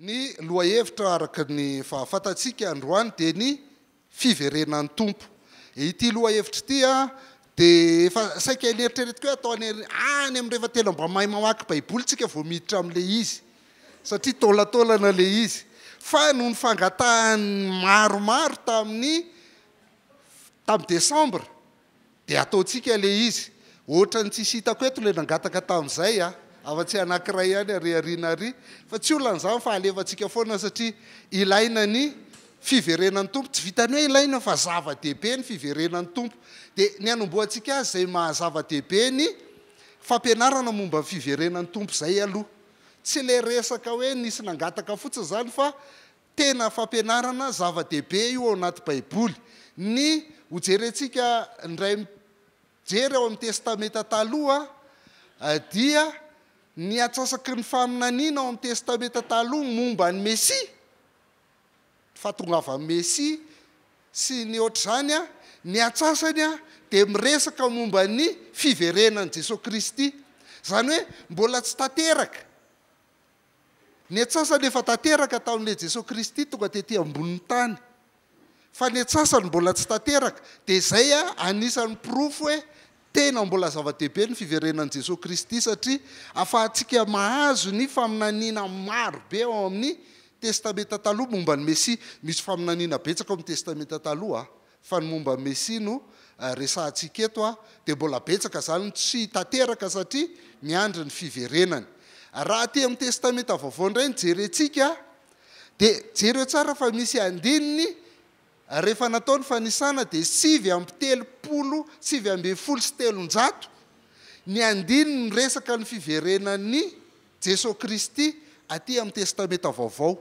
Ny lohahevitra araka ny fahafantantsika androany dia ny fiverenan'ny Tompo. Ity lohahevitra ity dia efa saika eneritreretiko hoe atao any amin'ny rehefa tena mba mahay mamaky baiboly tsika vao miditra amin'ilay izy satria taolantaolana ilay izy fa noho ny fangatahan'ny maromaro tamin'ny tamin'ny desambra Dia ataontsika ilay izy. Ohatran'ny tsisy hitako eto ilay nangataka tamin'izay a! Afa-tsy anankiray ihany ary ariana ary. Fa tsy olana izany fa alefantsika foana satria ilaina ny fiverenan'ny Tompo. Tsy vitan'ny hoe ilaina fa zava-dehibe ny fiverenan'ny Tompo. Dia ny hanombohantsika azy izay maha-zava-dehibe ny fampianarana momba ny fiverenan'ny Tompo izay aloha. Tsy ilay resaka hoe nisy nangataka fotsiny izany fa Tena fampianarana zava-dehibe io ao anaty Baiboly. Ny hojerentsika indray mijery ao amin'ny Testamenta Taloha dia ny atsasaky ny faminaniana ao amin'ny Testamenta Taloha momba ny Mesia, ny fahatongavan'ny Mesia sy ny hoatr'izany. Ny antsasany dia miresaka momba ny fiverenan'i Jesoa Kristy. Izany hoe mbola tsy tanteraka Ny atsasany efa tanteraka tamin'ilay Jesoa Kristy tonga tety ambonin'ny tany. Fa ny atsasany mbola tsy tanteraka. Dia izay anisan'ny porofo hoe tena mbola zava-dehibe ny fiverenan'i Jesoa Kristy satria afahantsika mahazo ny faminaniana maro be ao amin'ny Testamenta Taloha momba ny Mesia. Misy faminaniana betsaka ao amin'ny Testamenta Taloha Fa ny momba ny Mesia no resahantsika eto dia mbola betsaka izany no tsy tanteraka satria miandry ny fiverenany. Raha aty amin'ny Testamenta Vaovao indray no jerentsika dia jereo tsara fa misy andininy rehefa natao ny fanisana dia sivy amby telopolo, sivy ambin'ny folo sy telonjato ny andininy miresaka ny fiverenan'i Jesoa Kristy aty amin'ny Testamenta Vaovao.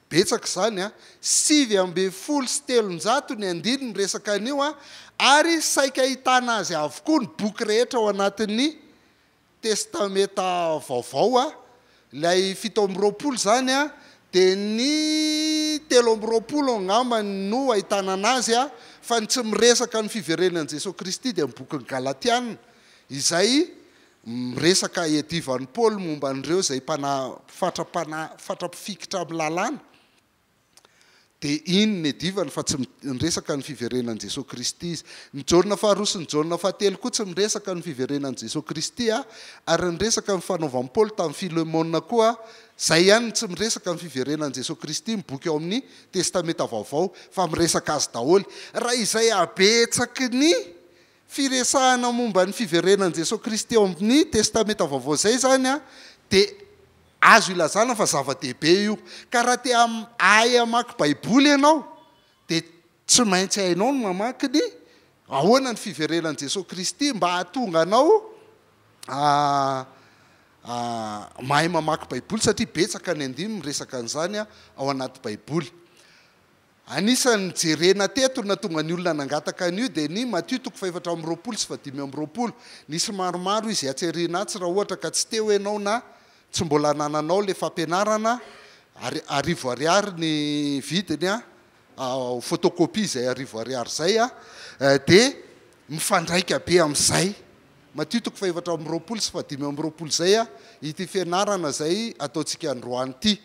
Betsaka izany an! Sivy ambin'ny folo sy telonjato ny andininy resaka an'io an! Ary saika ahitana azy avokoa ny boky rehetra ao anatin'ny Testamenta Vaovao an! Ilay fito amby roapolo izany an, dia ny telo amby roapolo angamba no ahitana an'azy an! Fa ny tsy miresaka ny fiverenan'i Jesoa Kristy dia ny bokin'ny Galatiana izay Miresaka i Eddie Van Paul momba an'ireo izay mpanahy fatra-panahy fatra-pifikitra amin'ny lalàna. Dia iny ny Edivany fa tsy miresaka ny fiverenan'i Jesoa Kristy izy. Ny Jaona faharoa sy ny Jaona fahatelo koa tsy miresaka ny fiverenan'i Jesoa Kristy a! Ary ny resaka ny fanaovan'i Paoly tamin'i Filemona koa izay ihany no tsy miresaka ny fiverenan'i Jesoa Kristy ny boky ao amin'ny Testamenta Vaovao fa miresaka azy daholo. Raha izay habetsaky ny. firesahana momba ny fiverenan'i Jesoa Kristy ao amin'ny Testamenta Vaovao izay izany dia azo ilazana fa zava-dehibe io. Ka raha te hahay hamaky Baiboly ianao dia tsy maintsy hainao ny mamaky ny Ahoana ny fiverenan'i Jesoa Kristy mba hahatonga anao mahay mamaky Baiboly satria betsaka ny andininy miresaka an'izany ao anaty Baiboly. Anisan'ny jerena teto ny nahatonga ny olona nangataka an'io dia ny Matio toko fahefatra amby roapolo sy fahadimy amby roapolo. Nisy maromaro izy hatseriana atsy raha ohatra ka tsy teo ianao na tsy mbola anananao ilay fampianarana ary arivo ariary ny vidiny an! ao photocopie izay arivo ariary izay an! dia mifandraika be amin'izay Matio toko fahefatra amby roapolo sy fahadimy amby roapolo izay an! ity fianarana izay ataontsika androany ity.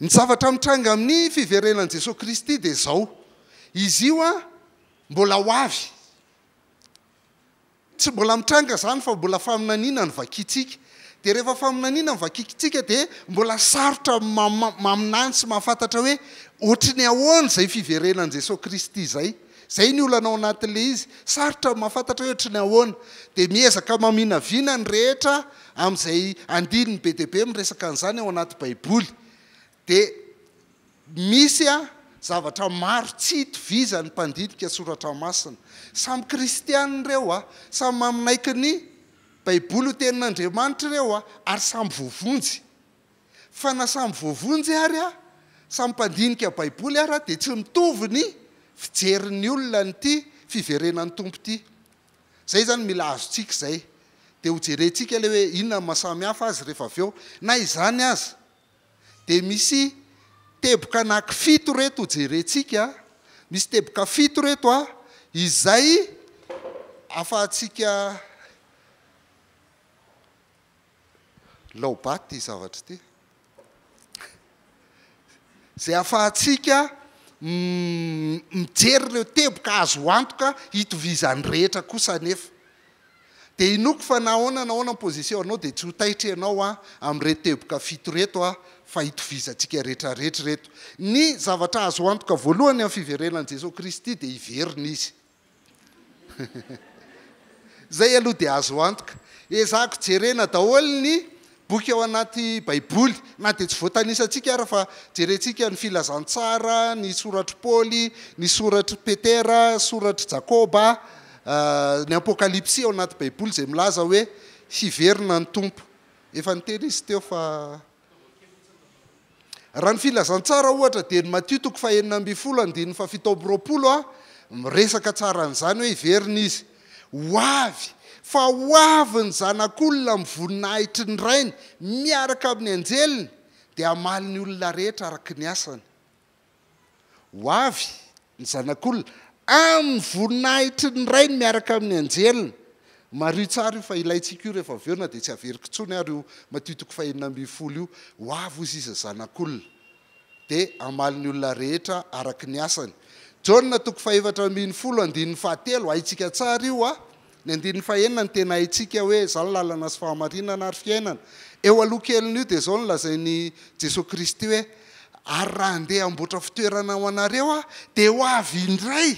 Ny zavatra mitranga amin'ny fiverenan'i Jesoa Kristy dia izao, izy io an, mbola ho avy. Tsy mbola mitranga izany fa mbola faminaniana no vakintsika. Dia rehefa faminaniana no vakintsika dia mbola sarotra maminany sy mahafantatra hoe ohatry ny ahoana izay fiverenan'i Jesoa Kristy izay. Izay ny olana ao anatin'ilay izy. Sarotra ny mahafantatra hoe ohatry ny ahoana. Dia miezaka maminavina ny rehetra amin'izay andininy be dia be miresaka an'izany ao anaty Baiboly. Dia misy zavatra maro tsy itovizan'ny mpandinika soratra masina. Samy kristiana ireo, samy manaiky ny Baiboly ho Tenin'Andriamanitra ireo, ary samy voavonjy. Fa na samy voavonjy ary aho, samy mpandinika Baiboly ary aho dia tsy mitovy ny fijerin'ny olona an'ity fiverenan'ny Tompo ity. Izay izany mila azontsika izay. Dia hojerentsika ilay hoe inona no mahasamihafa azy rehefa avy eo. Na izany aza, dia misy teboka anaky fito ireto hojerentsika, misy teboka fito ireto izay ahafahantsika Laoba ity zavatra ity. Izay ahafahantsika mijery ireo teboka azo antoka hitovizan'ny rehetra kosa anefa. Dia inoako fa na ahoana na ahoana ny position anao dia tsy ho taitra ianao amin'ireto teboka fito ireto fa hitovizantsika rehetra rehetra ireto. Ny zavatra azo antoka voalohany amin'ny fiverenan'i Jesoa Kristy dia hiverina Izy. Izay aloha dia azo antoka. Ezahako jerena daholo ny boky ao anaty Baiboly, na dia tsy voatanisantsika ara fa jerentsika ny Filazantsara, ny soratr'i Paoly, ny soratr'i Petera, soratr'i Jakoba, ny Apokalypsy ao anaty Baiboly izay milaza hoe hiverina ny Tompo. Efa niteny izy teo fa. Raha ny Filazantsara, ohatra, dia ny Matio toko fahenina ambin'ny folo andininy fahafito amby roapolo miresaka tsara an'izany hoe hiverina izy ho avy, fa ho avy ny Zanak'olona amin'ny voninahitry ny Rainy miaraka amin'ny anjeliny, dia hamaly ny olona rehetra araka ny asany. Ho avy ny Zanak'olona amin'ny voninahitry ny Rainy miaraka amin'ny anjeliny. Mariho tsara io fa ilaintsika io rehefa avy eo na dia tsy averiko intsony ary io Matio toko fahenina ambin'ny folo io. Ho avy hoy sisa Zanak'olona dia hamaly ny olona rehetra araka ny asany. Jaona toko fahefatra ambin'ny folo andininy fahatelo, haintsika tsara io a! Ny andininy fahenina no tena haintsika hoe izao ny lalana sy fahamarinana ary fiainana. Eo aloha kelin'io dia izao no lazain'i Jesoa Kristy hoe, Ary raha handeha hamboatra fitoerana ho anareo aho, dia ho avy indray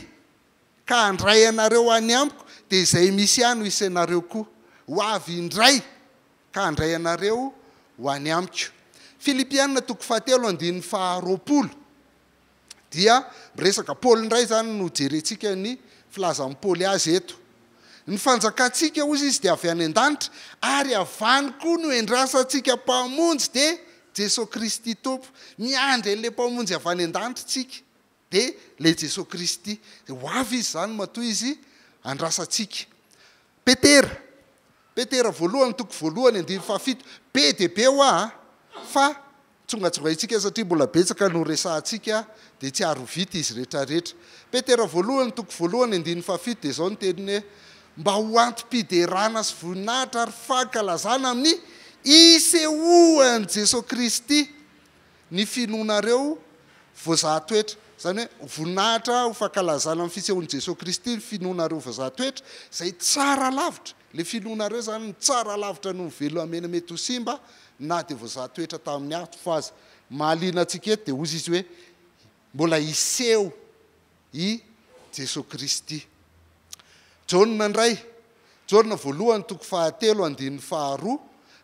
ka handray anareo any amiko, dia izay misy ahy no hisy anareo koa. Ho avy indray ka handray anareo ho any amiko. Filipiana toko fahatelo andininy faharoapolo. dia miresaka Paoly indray izany no jerentsika ny filazan'i Paoly azy eto. Ny fanjakantsika hoy izy dia avy any an-danitra ary avy any koa no endrasantsika Mpamonjy dia Jesoa Kristy Tompo. Miandry an'ilay Mpamonjy avy any an-danitra isika dia ilay Jesoa Kristy. Dia ho avy izy izany matoa izy andrasantsika. Petera, Petera voalohany toko voalohany andininy fahafito, be dia be hoa fa Tsongatsongaintsika satria mbola betsaka no resahantsika dia tsy ary ho vita izy retraretra. Petera voalohany toko voalohany andininy fahafito dia izao ny teniny hoe, Mba ho antom-piderana sy voninahitra ary fankalazana amin'ny isehoan'i Jesoa Kristy ny finoanareo voazaha toetra. Izany hoe ho voninahitra, ho fankalazana ny fisehoan'i Jesoa Kristy ny finoanareo voazaha toetra, izay tsara lavitra. Le filonareo zany no tsara alavitra noho ny velomamena mety ho simba na dia voazaha toetra tamin'ny ato fa aza. Mahaliana antsika eto dia hozy izy hoe mbola hiseho i Jesoa Kristy. Jaona indray, Jaona voalohany toko fahatelo andininy faharoa,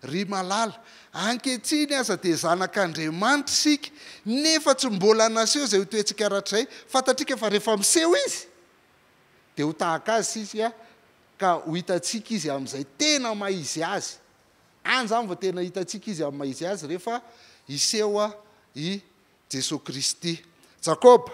Ry malala, ankehitriny aza dia zanak'Andriamanitra isika nefa tsy mbola naseho izay ho toentsika rahatrizay, fantatrika fa rehefa miseho izy dia ho tahaka azy isika Ka ho hitantsika Izy amin'izay tena maha-Izy Azy. Any izany vao tena hitantsika Izy amin'ny maha-Izy Azy, rehefa hiseho i Jesoa Kristy. Jakoba.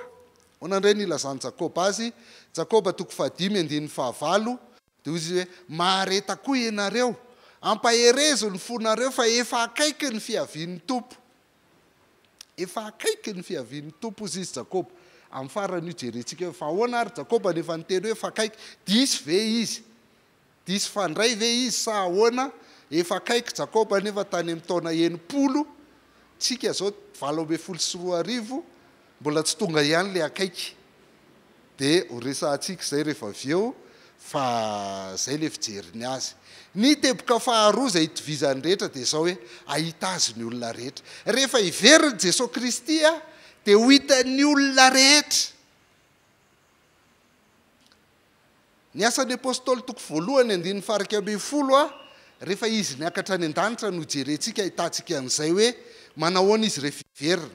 Ahoana indray no ilazan'i Jakoba azy? Jakoba toko fahadimy andininy fahavalo, dia hoy izy hoe, Mahareta koa ianareo. Ampaherezo ny fonareo, fa efa akaiky ny fiavian'ny Tompo. Efa akaiky ny fiavian'ny Tompo, hoy izy, Jakoba. Amin'ny faran'io jerentsika hoe fa ahoana ary Jakoba no efa niteny hoe fa akaiky? Diso ve izy? Diso fandray ve izy sa ahoana? Efa akaiky Jakoba anefa tany amin'ny taona enimpolo, tsika izao valo ambin'ny folo sy roa arivo, Mbola tsy tonga ihany le akaiky de ho resahantsika izay rehefa avy eo fa izay le fijery ny azy. Ny teboka faharoa izay itovizan'ny rehetra dia izao hoe ahita azy ny olona rehetra. Rehefa hiverin'i Jesoa Kristy dia ho hitan'ny olona rehetra. Ny Asan'ny Apostoly toko voalohany andininy faha iraika ambin'ny folo a Rehefa Izy niakatra any an-danitra no ijerentsika ahitantsika an'izay hoe manahoana Izy rehefa hiverina.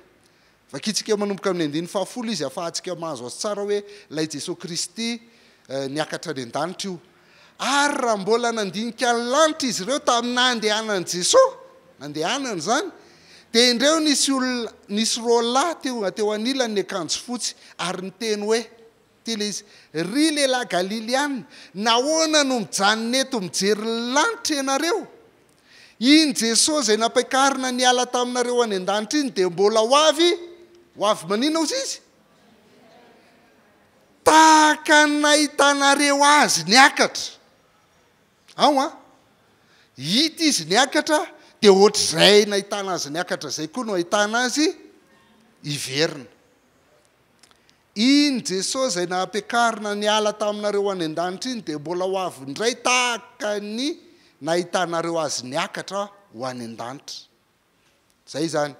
Vakintsika manomboka amin'ny andininy faha folo izy ahafahantsika mahazo azy tsara hoe ilay Jesoa Kristy niakatra any an-danitra io. Ary raha mbola nandinika ny lanitra izy ireo tamin'ny nandehanan'i Jesoa, nandehanany izany, dia indreo nisy olona, nisy roalahy tonga teo anilany niakanjo fotsy ary niteny hoe. Dia ilay izy, Ry lehilahy Galiliana, nahoana no mijanona eto mijery ny lanitra ianareo? Iny Jesoa izay nampiakarina niala taminareo any an-danitra iny dia mbola ho avy, ho avy maninona hozy Izy? Tahaka ny nahitanareo Azy niakatra. Ao an! Hita Izy niakatra, dia hoatr'izay nahitana Azy niakatra izay koa no hahitana Azy hiverina. Iny Jesosy izay nampiakarina niala taminareo any an-danitra iny dia mbola ho avy indray tahaka ny nahitanareo Azy niakatra ho any an-danitra. Izay izany.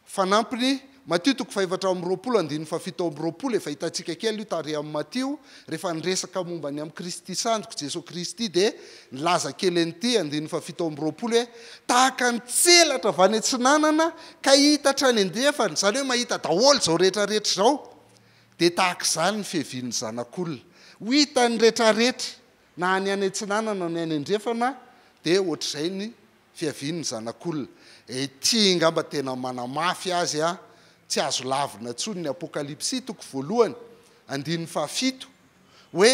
Fanampiny, Matio toko fahefatra amby roapolo andininy fahafito amby roapolo, efa hitantsika kely io tary amin'ny Matio, rehefa niresaka momba ny amin'i Kristy Sandriko, Jesosy Kristy dia Nilaza kely an'ity andininy fahafito amby roapolo hoe, Tahaka ny tselatra avy any atsinanana ka hita hatrany andrefana, izany hoe mahita daholo izao rehetrarehetra izao, dia tahaka izany ny fiavian'ny Zanak'olona. Ho hitan'ny rehetrarehetra, na ny any atsinanana na ny any andrefana, dia hoatr'izay ny fiavian'ny Zanak'olona. Ity angamba tena manamafy azy tsy azo lavina intsony ny Apokalypsy, toko voalohany, andininy fahafito. hoe,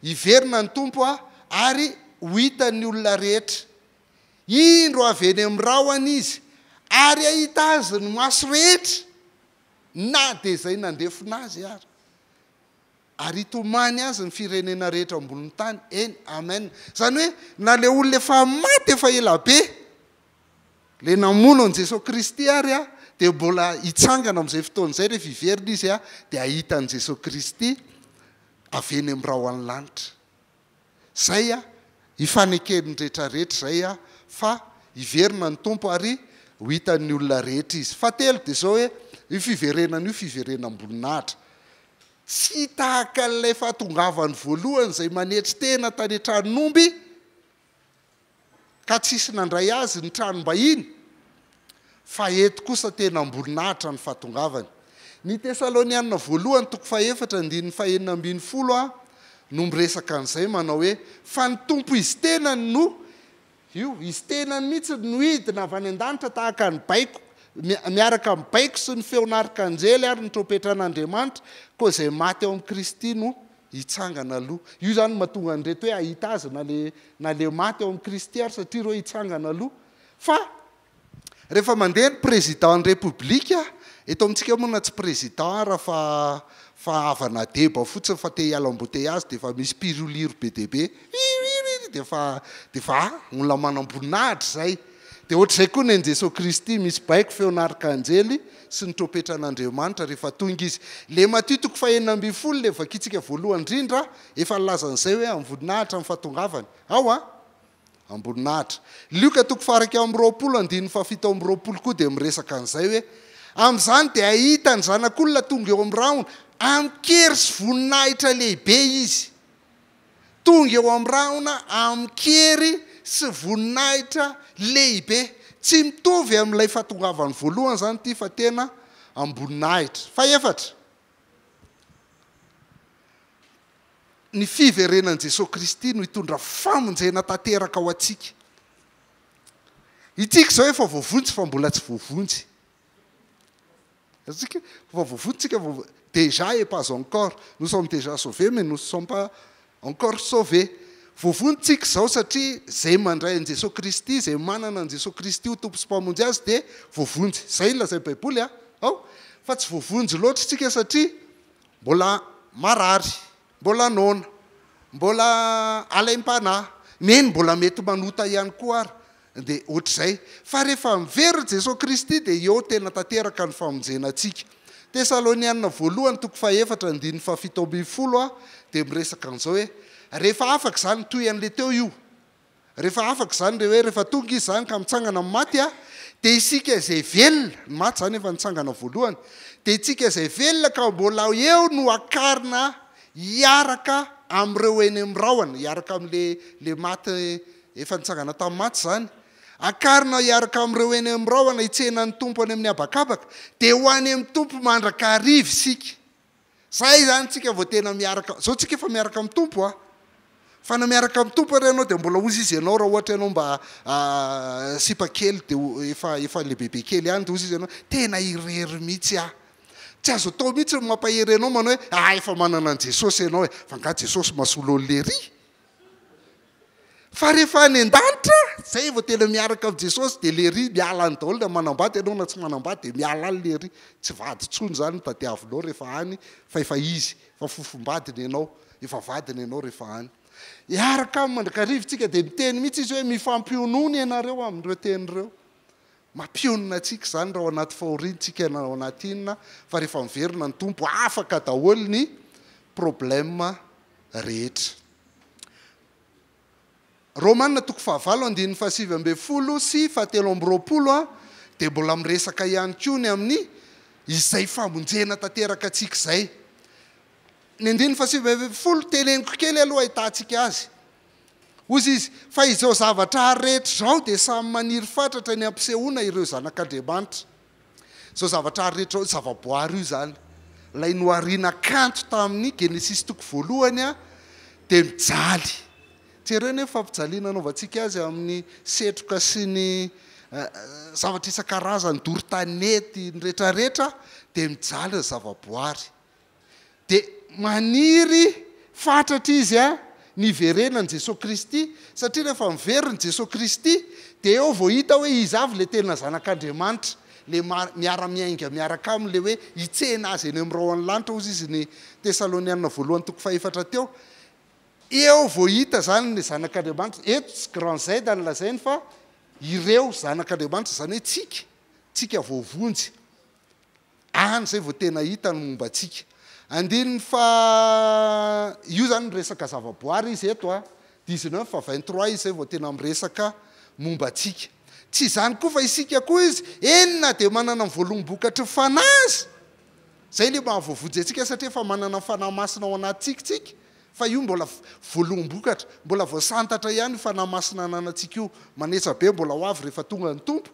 Hiverina ny Tompo a, ary ho hitan'ny olona rehetra. Indro avy eny amin'ny rahona Izy, ary hahita Azy ny maso rehetra, na dia izay nandefona Azy ary. Ary hitomany Azy ny firenena rehetra ambonin'ny tany. Eny. Amen. Izany hoe, na ilay olona efa maty efa ela be, Ilay namono an'i Jesoa Kristy ary dia mbola hitsangana amin'izay fotoana izay, rehefa hiverina Izy dia hahita an'i Jesoa Kristy avy eny amin'ny rahon'ny lanitra. Izay ifaneken'ny rehetra rehetra izay fa hiverina ny Tompo ary ho hitan'ny olona rehetra Izy. Fahatelo dia izao hoe, io fiverenana io fiverenam-boninahitra. Tsy tahaka an'ilay fahatongavany voalohany izay manetry tena tany an-tranon'omby, ka tsisy nandray azy ny tranom-bahiny, fa eto kosa tena am-boninahitra ny fahatongavany. Ny Tesalonianina Voalohany toko fahefatra andininy fahenina ambin'ny folo no miresaka an'izay manao hoe, Fa ny Tompo Izy tenany no, io Izy tenany mihitsy no hidina avy any an-danitra tahaka ny baiko, miaraka amin'ny baiko sy ny feon'arikanjely ary ny trompetra an'Andriamanitra, koa izay maty ao amin'i Kristy no hitsangana aloha. Io izany no mahatonga an'ireto hoe hahita Azy na le na le maty ao amin'i Kristy ary satria ireo hitsangana aloha. Fa rehefa mandeha ny Président-n'ny République, eto amintsika moa na tsy Président ara fa fa havana deba fotsiny fa te hiala embouteillage dia efa misy mpiroliro be dia be, Ririririr dia efa dia efa a! olona manam-boninahitra izay. Dia ohatr'izay koa ny an'i Jesoa Kristy, misy baiko feon'Arkanjely, sy ny trompetran'Andriamanitra rehefa tonga Izy. Ilay Matio toko fahenina ambin'ny folo ilay vakintsika voalohany indrindra, efa nilaza an'izay hoe amim-boninahitra ny fahatongavany. Ao an? Amboninahitra. Lioka toko fahairaika amby roapolo andininy fahafito amby roapolo koa dia miresaka an'izay hoe, Amin'izany dia hahita ny Zanak'olona tonga eo amin'ny rahona, amin-kery sy voninahitra lehibe Izy. Tonga eo amin'ny rahona amin-kery sy voninahitra lehibe. Tsy mitovy amin'ilay fahatongavany voalohany izany ity fa tena am-boninahitra. Fahefatra, ny fiverenan'i Jesoa Kristy no hitondra famonjena tanteraka ho antsika. Isika izao efa voavonjy fa mbola tsy voavonjy. Antsika vao voavoa tsika vao déjà et pas encore, nous sommes déjà sauvés mais nous ne sommes pas encore sauvés, voavoa ntsika izao satria izay mandray an'i Jesoa Kristy, izay manana an'i Jesoa Kristy ho Tompo sy Mpamonjy azy dia voavonjy, izay no lazain'ny Baiboly a! ao, fa tsy voavonjy loatra isika satria mbola marary, Mbola noana. Mbola alaim-panahy. Neny mbola mety manota ihany koa ary dia ohatr'izay. Fa rehefa miverina Jesoa Kristy dia eo tena tanteraka ny famonjena antsika. Tesalonianina voalohany toko fahefatra andininy fahafito ambin'ny folo dia miresaka an'izao hoe rehefa afaka izany toy an'ilay teo io. Rehefa afaka izany dia hoe rehefa tonga izy izany ka mitsangana amin'ny maty a, dia isika izay velona, ny maty izany efa nitsangana voalohany, dia itsika izay velona ka mbola eo no hakarina hiaraka amin'ireo eny amin'ny rahona, hiaraka amin'ilay ilay maty efa nitsangana tamin'ny maty izany, hakarina hiaraka amin'ireo eny amin'ny rahona hitsena ny Tompo any amin'ny habakabaka, dia ho any amin'ny Tompo mandrakariva isika. Zay izany tsika vao tena miaraka, zao tsika efa miaraka amin'ny Tompo a! Fa na miaraka amin'ny Tompo ary ianao dia mbola hozy izy ianao raha ohatra ianao mba sipa kely dia efa efa lehibebe kely ihany dia hozy izy ianao tena irery mihitsy aho! Tsy azo atao mihitsy ny mampahery anao manao hoe ah efa manana an'i Jesosy ianao e! Fa angaha Jesosy masolol ery? Fa rehefa any an-danitra, zay vao tena miaraka amin'i Jesosy dia lery miala any daholo na manambady ianao na tsy manambady dia miala any lery, tsy vady intsony zany no tadiavinao rehefa any fa efa izy, efa fofombadiny ianao, efa vadiny ianao rehefa any. Hiaraka aminy mandrakariva isika dia miteny mihitsy izy hoe mifampionona ianareo amin'ireo teny ireo. Mampionona antsika izany raha ao anaty fahoriana isika na ao anaty inona fa rehefa miverina ny Tompo afaka daholo ny problème rehetra. Romana toko fahavalo andininy fahasivy ambin'ny folo sy fahatelo amby roapolo dia mbola miresaka ihany koa ny amin'ny izay famonjena tanteraka antsika izay. Ny andininy fahasivy ambin'ny folo, teneniko kely aloha hahitantsika azy. Hoy izy, Fa izao zavatra rehetra izao dia samy maniry fatratra ny hampisehoana ireo zanak'Andriamanitra. Izao zavatra ary rehetra, zavaboary io izany, ilay nohariana kanto tamin'ny Genesisy toko voalohany dia mijaly. Jereo anie ny fampijaliana anaovantsika azy amin'ny setroka sy ny zavatra isan-karazany, doro tanety, ny rehetra rehetra dia mijaly ny zavaboary. Dia maniry fatratra izy niverenan'i Jesoa Kristy, satria rehefa miverina i Jesoa Kristy, dia eo vao hita hoe izy avy ilay tena Zanak'Andriamanitra, ilay miara-miainga miaraka Aminy, ilay hoe hitsena Azy eny amin'ny rahon'ny lanitra, hozy izy ny Tesalonianina voalohany toko fahefatra teo. Eo vao hita izany ny Zanak'Andriamanitra. Eto tsy Grand Z no lazainy fa ireo Zanak'Andriamanitra, izany hoe tsika, tsika voavonjy. any izay vao tena hita ny momba antsika. Andininy faha, io izany miresaka zavaboary izy eto a, dix-neuf fa vingt trois izy izay vao tena miresaka momba antsika. Tsy izany koa fa isika koa izy, eny na dia manana ny voaloam-bokatry ny Fanahy aza, izay ilay maha voavonjy antsika satria efa manana ny Fanahy Masina ao anatintsika tsika, fa io mbola voaloham-bokatra, mbola voasantatra ihany io Fanahy Masina ananantsika io, manetsa be mbola ho avy rehefa tonga ny Tompo,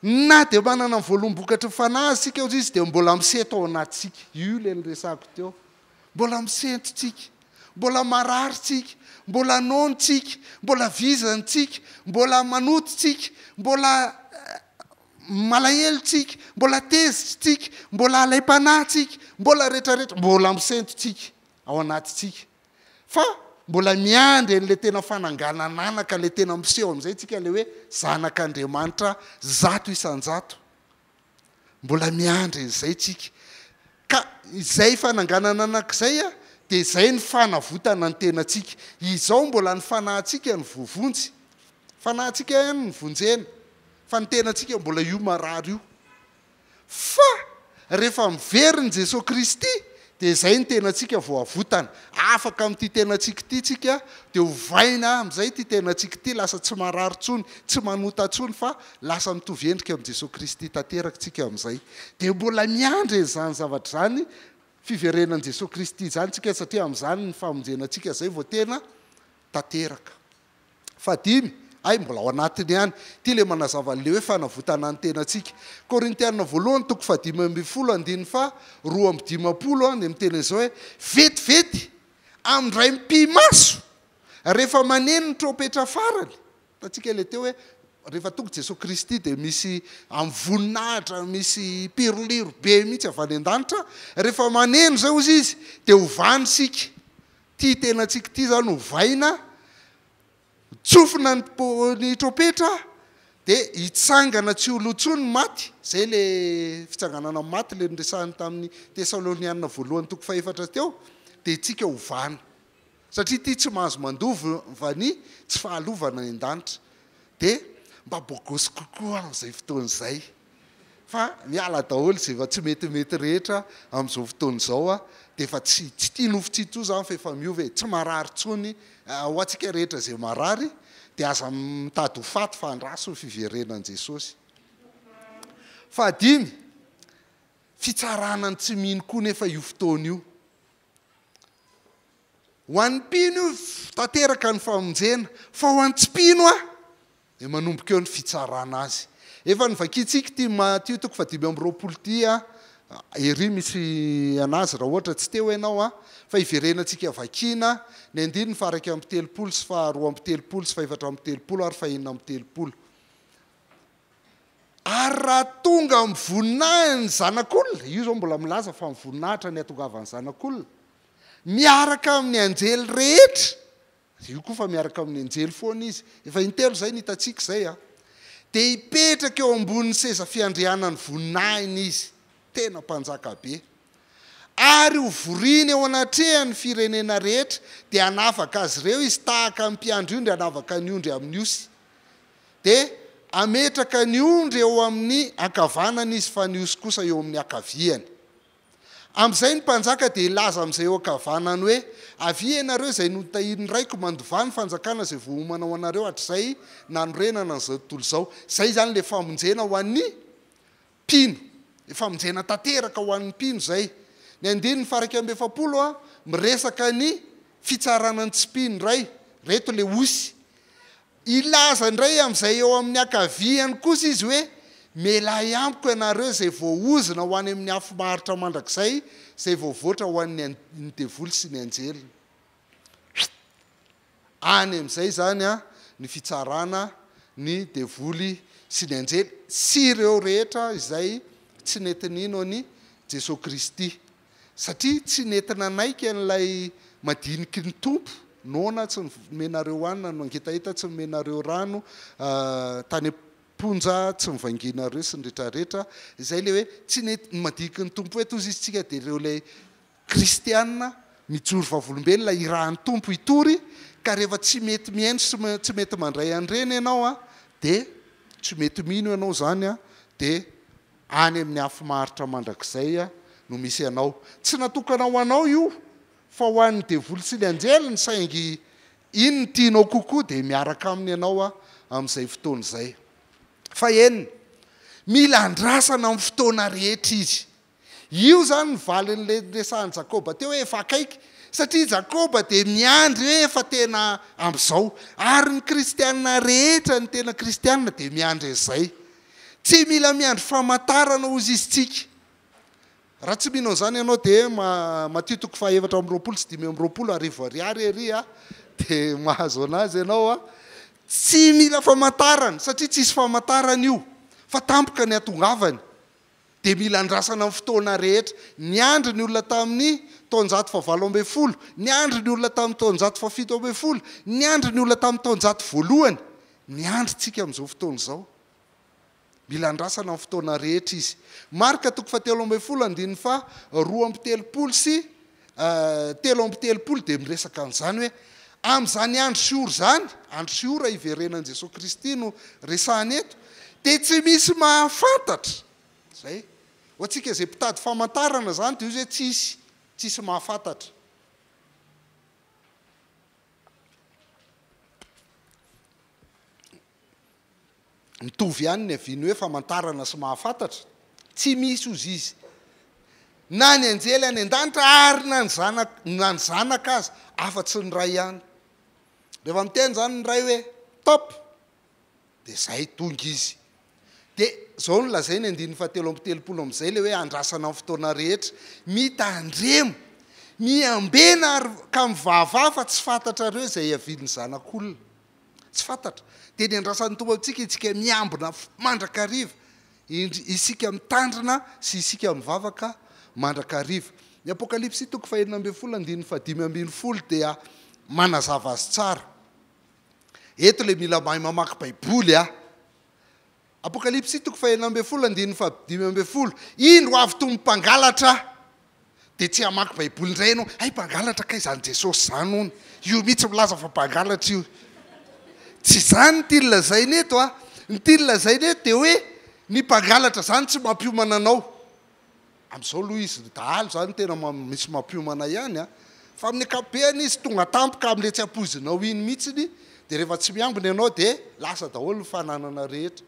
Na dia manana ny voalombokatry ny Fanahy isika aza izy dia mbola misento ao anatintsika. Io ilay niresahako teo. Mbola misento tsika. Mbola marary tsika. Mbola nono tsika. Mbola vizana tsika. Mbola manoto tsika. Mbola malahelo tsika. Mbola tezitra tsika. Mbola alaim-panahy tsika. Mbola retraretra. Mbola misento tsika. ao anatintsika. Fa mbola miandry an'ilay tena fananganan'anaka, ilay tena miseho amin'izay isika, ilay hoe zanak'Andriamanitra zato isan-jato. Mbola miandry an'izay isika. Ka izay fananganan'anaka izay dia izay ny fanavotana ny tenantsika. Izao mbola ny fanahintsika no voavonjy. Fanahintsika ihany no vonjena, fa ny tenantsika mbola io marary io. Fa rehefa miverina i Jesoa Kristy dia izay ny tenantsika vao avotana. Afaka amin'ity tenantsika ity tsika dia ovaina amin'izay ity tenantsika ity lasa tsy marary intsony, tsy manota intsony fa lasa mitovy endrika amin'i Jesoa Kristy tanteraka tsika amin'izay. Dia mbola miandry an'izany zavatra izany, fiverenan'i Jesoa Kristy izany tsika satria amin'izany ny famonjena antsika izay vao tena tanteraka. Fahadimy, Hay mbola ao anatiny ihany. Ity ilay manazava an'ilay hoe fanavotana ny tenantsika. Korintiana voalohany toko fahadimy ambin'ny folo andininy faha roa amby dimampolo dia miteny an'izao hoe vetivety amin'ndray mipi-maso rehefa maneno ny trompetra farany. Hitantsika ilay teo hoe rehefa tonga i Jesoa Kristy dia misy amin'ny voninahitra misy pirliro be mihitsy avy any an-danitra. Rehefa maneno izay hozy Izy dia hovany isika. Ity tenantsika ity izany ovaina, tsofina ny po- ny trompetra dia hitsangana tsy ho lo intsony ny maty, izay ilay fitsanganana amin'ny maty ilay noresahiny tamin'ny Tesalonianina voalohany toko fahefatra teo, dia itsika hovana. Satria ity tsy mahazo mandova ny tsy fahalovana any an-danitra. Dia mba bôgôsy kokoa amin'izay fotoana izay. fa miala daholo izay efa tsy metimety rehetra amin'izao fotoana izao a, dia efa tsy tsy tia nofo tsy tia izany fa efa miova e, tsy marary intsony ho antsika rehetra izay marary dia aza mitady ho faty fa andraso ny fiverenan'i Jesosy. Fahadimy, fitsarana ny tsy mino koa nefa io fotoana io. Ho an'ny mpino io tanteraka ny famonjena, fa ho an'ny tsy mpino an! Dia manomboka eo ny fitsarana azy. Efa novakiantsika ity Matio toko fahadimy amby roapolo ity a! Ery misy an'azy raha ohatra tsy teo ianao a! Fa iverenantsika vakiana ny andininy faha-iraika amby telopolo sy faha-roa amby telopolo sy fahefatra amby telopolo ary fahenina amby telopolo. Ary raha tonga amin'ny voninahiny ny Zanak'olona, io izao mbola milaza fa ny voninahitra ny hatongavan'ny Zanak'olona, miaraka amin'ny anjely rehetra Avy eo koa fa miaraka amin'ny anjely foana izy, efa intelo izay no hitantsika izay a! Dia hipetraka eo ambonin'ny seza fiandrianan'ny voninahiny izy, tena mpanjaka be. Ary hovoriny eo anatrehan'ny firenena rehetra, dia hanavaka azy ireo izy tahaka ny mpiandry ondry hanavaka ny ondry amin'ny osy. Dia hametraka ny ondry eo amin'ny ankavanany izy fa ny osy kosa eo amin'ny ankaviany. Amin'izay ny mpanjaka dia hilaza amin'izay eo ankavanany hoe, Avia ianareo izay notahian'ny Raiko, mandovà ny fanjakana izay voaomana ho anareo hatrizay nanorenana an'izao tontolo izao. Izay izany ilay famonjena ho an'ny mpino. Ilay famonjena tanteraka ho an'ny mpino izay. Ny andininy faharaika amby efapolo miresaka ny fitsarana ny tsy mpino indray. Ireto ilay osy. Hilaza indray amin'izay eo amin'ny ankaviany kosa izy hoe, Mialàhy amiko ianareo izay voaozona ho any amin'ny afo maharitra mandrakizay, izay voavoatra ho an'ny an-ny devoly sy ny anjeliny. Huit. Any amin'izay izany an, ny fitsarana ny devoly sy ny anjely sy ireo rehetra izay tsy nety nino an'i Jesoa Kristy. satria tsy nety nanaiky an'ilay madiniky ny Tompo noana tsy nomenareo hanina no angetaheta tsy nomenareo rano tany am-ponja tsy novangianareo sy ny retraretra izay ilay hoe tsy nety ny madiniky ny Tompo eto hozy izy tsika dia ireo ilay kristiana mijoro vavolombelona irahan'ny Tompo hitory ka rehefa tsy mety mihaino sy tsy mety mandray an'ireny ianao dia tsy mety mino ianao izany dia Any amin'ny afo maharitra mandrakizay no misy anao. Tsy natokana ho anao io fa ho an'ny devoly sy ny anjeliny saingy iny ny tianao kokoa dia miaraka aminy ianao amin'izay fotoana izay. Fahenina, Mila andrasana amin'ny fotoana rehetra izy. Io izany ny valin'ilay niresahan'i Jakoba teo hoe efa akaiky satria i Jakoba dia miandry hoe efa tena amin'izao. Ary ny kristiana rehetra ny tena kristiana dia miandry an'izay. Tsy mila miandry famantarana hozy izy tsika. Raha tsy mino an'izany ianao dia Matio toko faha efatra amby roapolo sy dimy amby roapolo arivo ariary ery a! dia mahazo anazy ianao a! Tsy mila famantarana satria tsisy famantarana io fa tampoka ny hatongavany. dia mila andrasana amin'ny fotoana rehetra. Niandry ny olona tamin'ny taonjato fahavalo ambin'ny folo, niandry ny olona tamin'ny taonjato fahafito ambin'ny folo, niandry ny olona tamin'ny taonjato voalohany, miandry isika amin'izao fotoana izao. Mila andrasana amin'ny fotoana rehetra izy. Marka toko fahatelo ambin'ny folo andininy faha roa amby telopolo sy Telo amby telopolo dia miresaka an'izany hoe amin'izany andro sy ora izany, andro sy ora hiverenan'i Jesoa Kristy no resahina eto, dia tsy misy mahafantatra, izay. Ho antsika izay mpitady famantarana izany dia izy hoe tsisy, tsisy mahafantatra. Mitovy ihany ny aviany hoe famantarana sy mahafantatra. Tsy misy hozy izy. Na ny anjely any an-danitra ary na ny zanak na ny zanaka aza afa tsy ny Ray ihany. Rehefa miteny izany ny Ray hoe top dia izay tonga izy. Dia izao no lazainy andininy fahatelo amby telopolo amin'izay ilay hoe andrasana ny fotoana rehetra. Mitandremo. Miambena ary ka mivavaha fa tsy fantatrareo izay hiavian'ny Zanak'olona. Tsy fantatra. Dia ny andrasan'ny Tompo amintsika isika miambina mandrakariva, isika mitandrina sy isika mivavaka mandrakariva. Ny Apokalypsy toko fahenina ambin'ny folo andininy fahadimy ambin'ny folo dia manazava azy tsara. Eto ilay mila mahay mamaky Baiboly an! Apokalypsy toko fahenina ambin'ny folo andininy fahadimy ambin'ny folo Indro avy toa mpangalatra Dia tsy hamaky baiboly indray ianao Hay mpangalatra kay izany Jesosy izany hono Io mihitsy milaza fa mpangalatra io Tsy izany ny tiany lazaina eto a Ny tiany lazaina eto dia hoe Ny mpangalatra izany tsy mampiomana anao Amin'izao aloha izy dahalo izany tena misy mampiomana ihany an! Fa amin'ny ankapobeny izy tonga tampoka amin'ilay tsy ampoizinao iny mihitsiny, dia rehefa tsy miambina ianao dia lasa daholo ny fananana rehetra.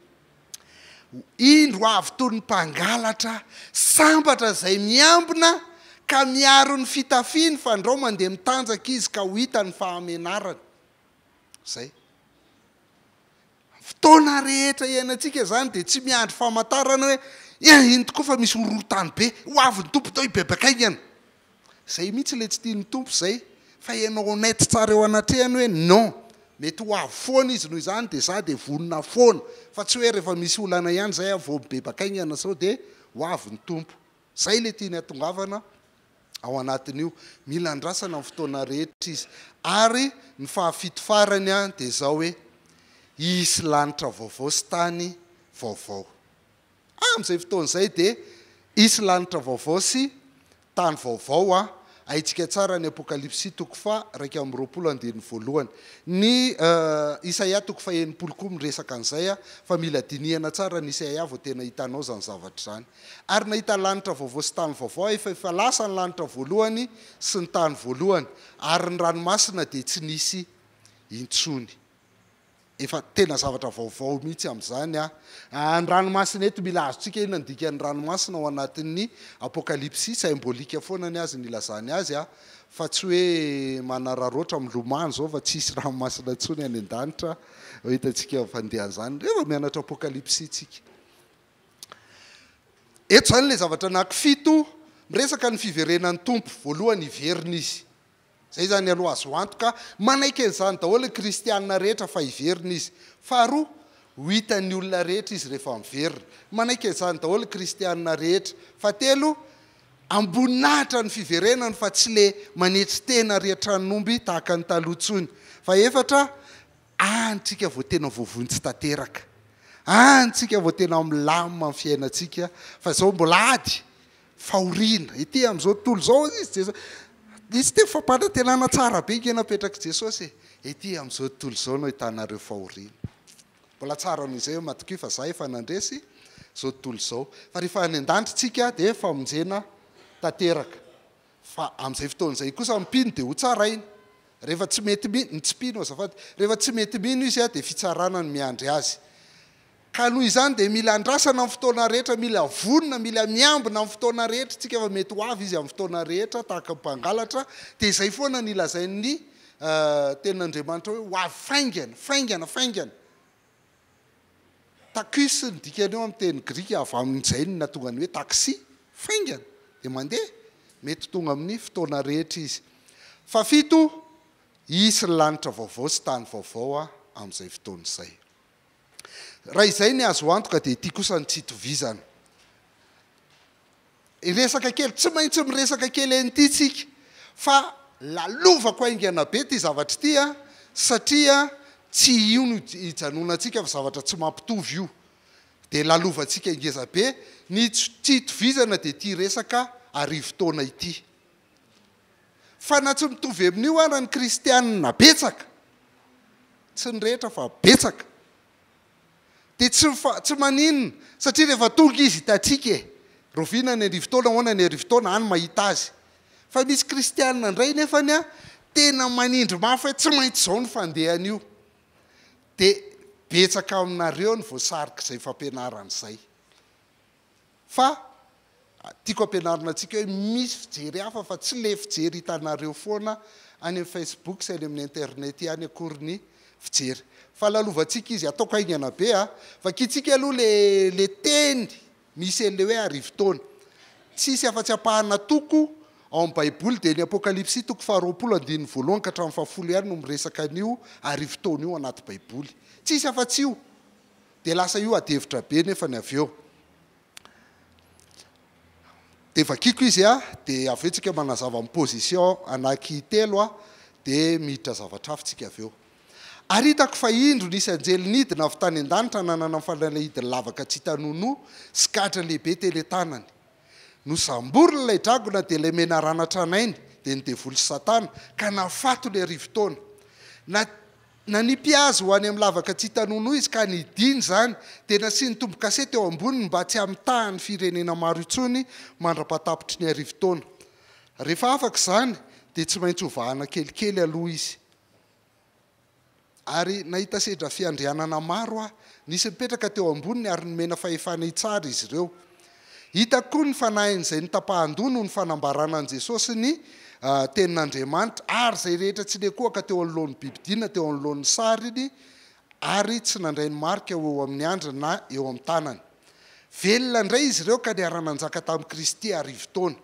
Indro avy toy ny mpangalatra sambatra izay miambina ka miaro ny fitafiny fandrao mandeha mitanjaka izy ka ho hitany ny fahamenarany. Izay. Ny fotoana rehetra iainantsika izany dia tsy miandry famantarana hoe eh iny tokoa fa misy horohorontany be, ho avy ny Tompo toa hibebaka haingana. Izay mihitsy ilay tsy tian'ny Tompo izay fa ianao honnête tsara eo anatrehany hoe non, mety ho avy foana Izy noho izany dia za dia vonona foana fa tsy hoe rehefa misy olana ihany izay aho vao mibebaka haingana sao dia ho avy ny Tompo. Izay ilay tiany hahatongavana. ao anatin'io. Mila andrasana ny fotoana rehetra izy. Ary ny fahafito farany dia izao hoe, Hisy lanitra vaovao sy tany vaovao. Amin'izay fotoana izay dia hisy lanitra vaovao sy tany vaovao. Haintsika tsara ny Apokalypsy toko faha iraika amby roapolo andininy voalohany. Ny Isaia toko faha enimpolo koa miresaka an'izay, fa mila dinihana tsara ny Isaia vao tena hitanao izany zavatra izany. Ary nahita lanitra vaovao sy tany vaovao aho, fa efa lasa ny lanitra voalohany sy ny tany voalohany, ary ny ranomasina dia tsy nisy intsony. Efa tena zavatra vaovao mihitsy amin'izany an! Ny ranomasina eto, mila azontsika inona ny dikan'ny ranomasina ao anatin'ny Apokalypsy, saimbôlika foana ny azy ny ilazany azy an! Fa tsy hoe manararaotra milomano izao fa tsy hisy ranomasina intsony any an-danitra an! Efa hitantsika fandehan'izany rehefa mianatra Apokalypsy isika. Eto izany ilay zavatra anaky fito, miresaka ny fiverenan'ny Tompo. Voalohany hiverina Izy. Izay izany aloha azo antoka. Manaiky an'izany daholo ny kristiana rehetra fa hiverina Izy. Faharoa, ho hitan'ny olona rehetra Izy rehefa miverina. Manaiky an'izany daholo ny kristiana rehetra. Fahatelo, amboninahitra ny fiverenany fa tsy ilay manetry tena ry an-tranon'omby tahaka ny taloha intsony. Fahefatra, Any tsika vao tena voavointsy tanteraka, any tsika vao tena milamina ny fiainantsika fa izao mbola ady, fahoriana, ety amin'izao tontolo izao hozy izy Jesosy, nisy teny fampanantenana tsara be nge napetrak'i Jesosy e, ety amin'izao tontolo izao no ahitanareo fahoriana, mbola tsara noho izay hoe matokia fa za efa nandresy izao tontolo izao, fa rehefa any an-danitra tsika dia famonjena tanteraka. Fa amin'izay fotoana izay kosa mpino dia hotsarainy. Rehefa tsy mety mino, ny tsy mpino azafady, rehefa tsy mety mino izy dia fitsarana no miandry azy. Ka noho izany dia mila andrasana amin'ny fotoana rehetra, mila vonona, mila miambina amin'ny fotoana rehetra isika fa mety ho avy izy amin'ny fotoana rehetra tahaka ny mpangalatra, dia izay foana ny lazain'ny tenin'Andriamanitra hoe ho avy faingana, faingana, faingana. Takys ny dikany eo amin'ny teny grika avy amin'ny jainy nahatonga ny hoe taksi, faingana, dia mandeha, mety ho tonga amin'ny fotoana rehetra izy. Fahafito, Hisy lanitra vaovao sy tany vaovao amin'izay fotoana izay. Raha izay ny azo antoka dia ity kosa no tsy itovizana. resaka kely, tsy maintsy miresaka kely an'ity tsika fa lalovako haingana be ity zavatra ity a, satria tsy io no hijanonantsika fa zavatra tsy mampitovy io, dia lalovantsika ngeza be, ny tsy itovizana dia ity resaka arivo taona ity, fa na tsy mitovy amin'io ara ny kristianina betsaka, tsy ny rehetra fa betsaka, Dia tsy mifa, tsy maninona, satria rehefa tonga Izy hitantsika e! Rahoviana ny arivo taona, ahoana ny arivo taona, any mahita Azy. Fa misy kristiana indray nefany an, tena manindry mafy hoe tsy maintsy izao ny fandehany io. Dia betsaka aminareo ny voasarik'izay fampianarana izay. fa tiako ampianarina antsika hoe misy fijery hafa fa tsy le fijery hitanareo foana any amin'ny Facebook sy any amin'ny internet ihany akory ny fijery fa lalovantsika izy ataoko haingana be a vakintsika aloha le le teny misy an'le hoe arivo taona tsy hisy afa-tsy ampahana toko ao amin'ny baiboly dia ny apokalypsy toko faharoapolo andininy voalohany ka hatramin'ny fahafolo ihany no miresaka an'io arivo taona io anaty baiboly tsy hisy afa-tsy io Dia lasa io adihevitra be nefany avy eo dia vakiko izy a! dia avy eo tsika manazava ny position anaky telo a! dia miditra zavatra hafa tsika avy eo ary hitako fa indro nisy anjely nidina avy tany an-danitra nanana fanalahidiny lavaka tsy hita nonoa sy gadra lehibe teny an-tanany nosamboriny ilay dragona dia ilay menarana tranainy dia ny devoly sy satana ka nahafaty ny arivo taona na Nanipy azy ho any amin'ny lavaka tsy hita-nono izy ka nidina izany dia nasiany tombo-kase teo amboniny mba tsy hamitàha ny firenena maro intsony mandra-pahatapitry ny arivo taona. Rehefa afaka izany dia tsy maintsy ho vahana kelikely aloha izy. Ary nahita sedra fiandrianana maro aho. Nisy nipetraka teo amboniny ary nomena fahefana hitsara izy ireo. Hita koa ny fanahin'izay notapahan-doha noho ny fanambarana an'i Jesosy ny Tenin'Andriamanitra, ary izay rehetra tsy niankohoka teo anoloan'ny bibi-dina, teo anoloan'ny sariny, ary tsy nandray ny marika ho eo amin'ny andriny na eo amin'ny tanany. Velona indray izy ireo ka niara-nanjaka tamin'i Kristy arivo taona.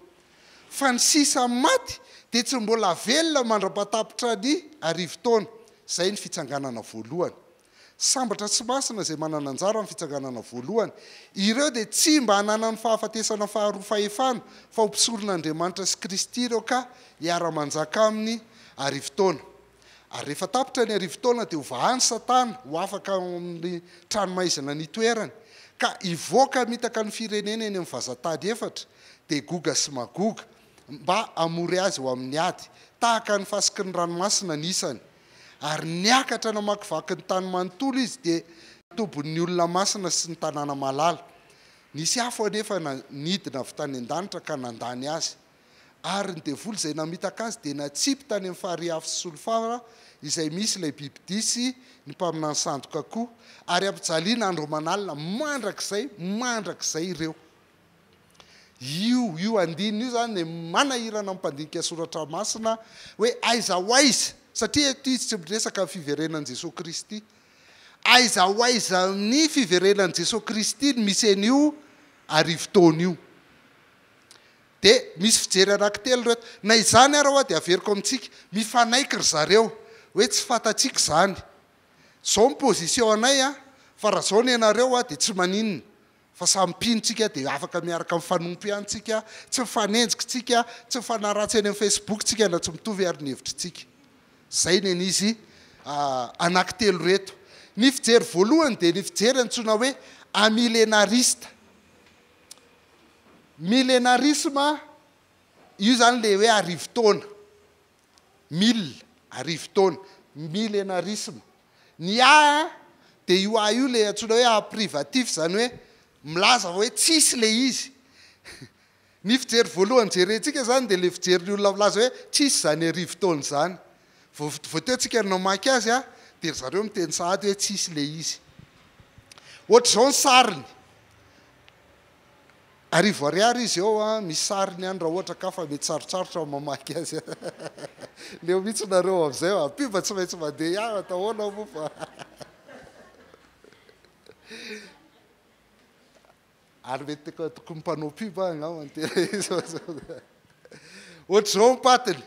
Fa ny sisa amin'ny maty dia tsy mbola velona mandra-patapitra ny arivo taona. Izay ny fitsanganana voalohany. Sambatra sy masina izay manana anjara amin'ny fitsanganana voalohany. Ireo dia tsy mba hananany fahafatesana faharoa fahefana, fa ho mpisoron'Andriamanitra sy Kristy ireo ka hiara-manjaka Aminy arivo taona. Ary rehefa tapitra ny arivo taona dia hovahany Satana ho afaka ao amin'ny tranomaizina nitoerany, ka hivoaka hamitaka ny firenena eny amin'ny vazantany efatra, dia Goga sy Magoga, mba hamory azy ho amin'ny ady. Tahaka ny fasiky ny ranomasina ny isany. Ary niakatra namakivaky ny tany manontolo izy, dia tobin'ny olona masina sy ny tanàna malala. Nisy afo anefa nidina avy tany an-danitra ka nandany azy. Ary ny devoly izay namitaka azy dia natsipy tany amin'ny farihy afo sy solifara izay misy ilay bibidia sy ny mpaminany sandoka koa, ary ampijaliana andro aman'alina mandrakizay mandrakizay ireo. Io io andininy io izany dia manahirana ny mpandinika soratra masina hoe aiza ho aiza, satria eto izy tsy miresaka ny fiverenan'i Jesoa Kristy. Aiza ho aiza amin'ny fiverenan'i Jesoa Kristy no misy an'io arivo taona io? Dia misy fijery anankitelo ireto. Na izany ary ho'a dia averiko amintsika, mifanaiky ry zareo hoe tsy fantatsika izany. Izao ny position anay an, fa raha izao ny anareo ho'a dia tsy maninona. fa samy mpino tsika dia afaka miaraka mifanompo ihany tsika, tsy mifanenjika tsika, tsy mifanaratsy eny amin'ny Facebook tsika na tsy mitovy ary ny hevitry tsika. Zay ny an'izy anaky telo reto. Ny fijery voalohany dia ny fijery antsoina hoe amilenarista. Milenarisme, io zany le hoe arivo taona. mille, arivo taona, milenarisme. Ny A dia io A io ilay antsoina hoe A privatif, izany hoe milaza fa hoe tsisy ilay izy. Ny fijery voalohany jerentsika izany dia ilay fijerin'ny olona milaza hoe tsisy izany arivo taona izany. Vao vao teo tsika no namaky azy a, dia ry zareo miteny sahady hoe tsisy ilay izy. Ohatr'izao ny sariny. Arivo ariary izy eo an, misy sariny any raha ohatra ka fa mety sarotsarotra ny mamaky azy an. Leo mihitsy nareo amzay an. Pub tsy maintsy mandeha ihany atao ahoana moa fa. Ary mety tokony mpanao pub aho angamba no tena izy fa sao. Ohatr'izao ny patiny.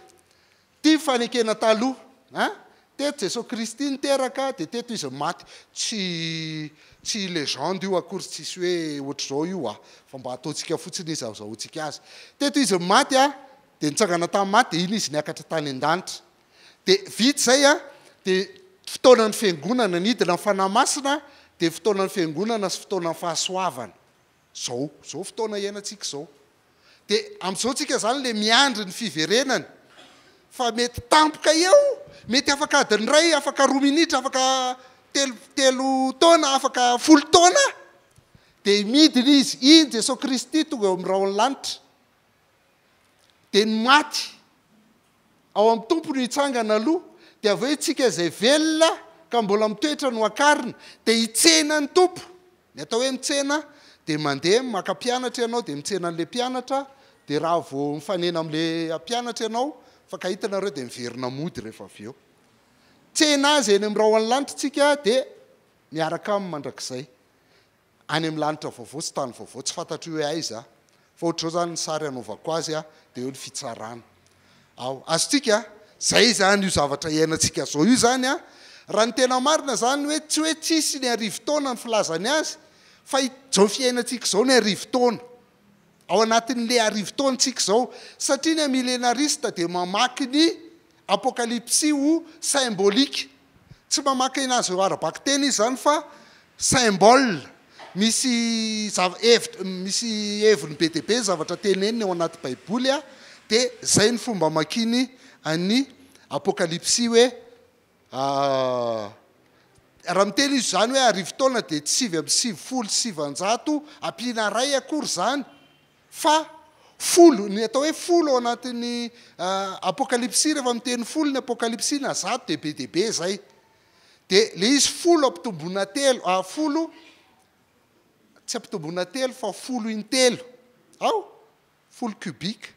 Ity fanekena taloha an! Teto Jesoa Kristy niteraka dia teto Izy maty. Tsy tsy legende io akory, tsisy hoe ohatr'izao io an! Fa mba ataontsika fotsiny izy azahoantsika azy. Teto Izy maty an! Dia nitsangana tamin'ny maty dia iny Izy niakatra tany an-danitra. Dia vita izay an! Dia fotoanan'ny Fiangonana, nidina ny Fanahy Masina dia fotoanan'ny Fiangonana sy fotoanan'ny fahasoavana. Zao, zao fotoana iainantsika zao. Dia amin'izao tsika zany le miandry ny fiverenany. Fa mety tampoka eo, mety afaka adiny iray, afaka roa minitra, afaka telo, telo taona, afaka folo taona. Dia midina izy, iny Jesoa Kristy tonga eo amin'ny rahon'ny lanitra. Dia ny maty. Ao amin'ny Tompo no hitsangana aloha, dia avy eo isika izay velona ka mbola mitoetra no akarina, dia hitsena ny Tompo. Ny atao hoe mitsena dia mandeha maka mpianatra ianao dia mitsena an'ilay mpianatra, dia raha vao mifanena amin'ilay mpianatra ianao fa ka hitanareo dia miverina mody rehefa avy eo. Tsena Azy eny amin'ny rahona lanitra isika dia miaraka Aminy mandrakizay. any amin'ny lanitra vaovao sy tany vaovao tsy fantatro hoe aiza aho fa ohatr'izao izany ny sary hanaovako azy aho dia eo ny fitsarana ao azontsika izay izany io zavatra iainantsika izao io izany an raha ny tena marina izany hoe tsy hoe tsisy ny arivo taona ny filazany azy fa izao fiainantsika izao ny arivo taona ao anatin'le arivo taona tsika izao satria le milenarista dia mamaky ny apokalipsy ho symbolique tsy mamaky anazy ireo ara-bakiteny izy izany fa symbole misy zava hevitra misy heviny be dia be zavatra teneniny ao anaty baiboly dia izay ny fomba amakiany an'ny apokalipsy hoe Raha miteny izy izany hoe arivo taona dia tsy sivy amby sivifolo sy sivanjato ampiana iray akory izany fa folo. Ny atao hoe folo ao anatin'ny Apokalypsy rehefa miteny folo ny Apokalypsy na zato dia be dia be izay. Dia ilay izy folo ampitomboina telo, ah, folo, tsy ampitomboina telo fa folo intelo. Ao? folo cubic,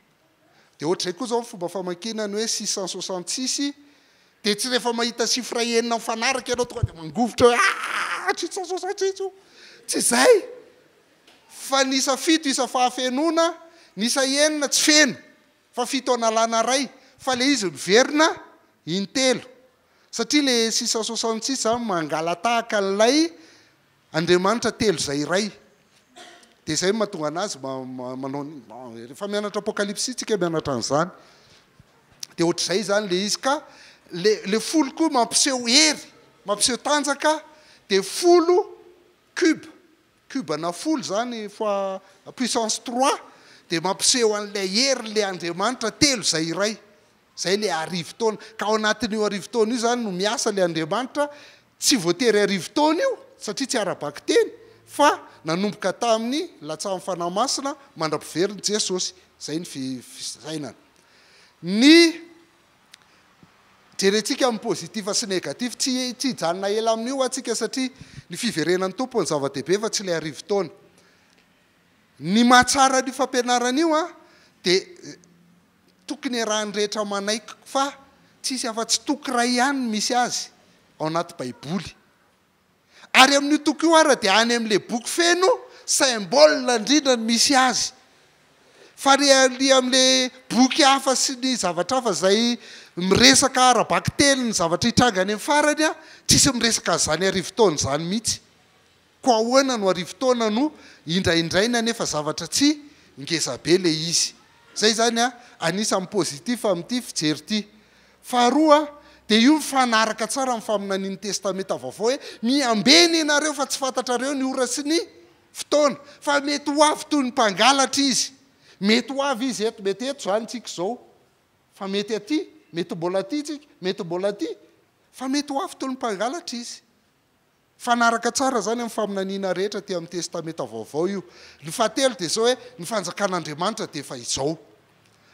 dia ohatr'izay koa izao ny fomba famakiana ny hoe six cent soixante six, dia tsy rehefa mahita chiffre enina mifanaraka ianao tonga dia mangovitra hoe aa six cent soixante six io, tsy izay fa ny isa fito isa fahafenoana, ny isa enina tsy feno fa fito analana iray fa ilay izy miverina intelo satria ilay six cent soixante six izany mangala-tahaka an'ilay Andriamanitra telo izay iray. Dia izay no mahatonga anazy manao ny, rehefa mianatra apokalypsy tsika mianatra an'izany. Dia ohatr'izay izany ilay izy ka ilay ilay folo koa mampiseho hery, mampiseho tanjaka dia folo cube, cube-na folo izany fois puissance trois dia mampiseho an'ilay herin'ilay Andriamanitra telo izay iray. Izay ilay arivo taona. Ka ao anatin'io arivo taona io izany no miasa ilay Andriamanitra, tsy voatery arivo taona io satria tsy ara-bakiteny fa nanomboka tamin'ny latsahan'ny Fanahy Masina mandra-piverin'i Jesosy. Izay ny fisainana. Ny jerentsika amin'ny positif sy négatif, tsy tsy hijanona ela amin'io antsika satria ny fiverenan'ny Tompo no zava-dehibe fa tsy ilay arivo taona. Ny mahatsara an'io fampianarana io dia Tokony iarahan'ny rehetra manaiky fa tsy hisy afa-tsy toko iray ihany no misy azy ao anaty Baiboly. Ary amin'io toko io àry dia any amin'ilay boky feno symbole indrindra no misy azy. Fa ny amin'ilay boky hafa sy ny zavatra hafa izay miresaka ara-bakiteny ny zavatra hitranga any amin'ny farany, tsy hisy miresaka an'izany arivo taona izany mihitsy. Ko ahoana no arivo taona no indraindrainy anefa zavatra tsy ngezabe le izy. Zay zany anisany positif amin'ity fijery ity. Faharoa dia io mifanaraka tsara amin'ny faminanian'ny testamenta vaovao hoe miambena ianareo fa tsy fantatrareo ny ora sy ny fotoana. Fa mety ho avy toy ny mpangalatra izy. Mety ho avy izy eto, mety eto zany tsika izao. Fa mety aty, mety mbola aty tsika, mety mbola aty. Fa mety ho avy toy ny mpangalatra izy. Mifanaraka tsara izany amin'ny faminaniana rehetra aty amin'ny Testamenta Vaovao io. Ny fahatelo dia izao hoe, ny fanjakan'Andriamanitra dia efa izao.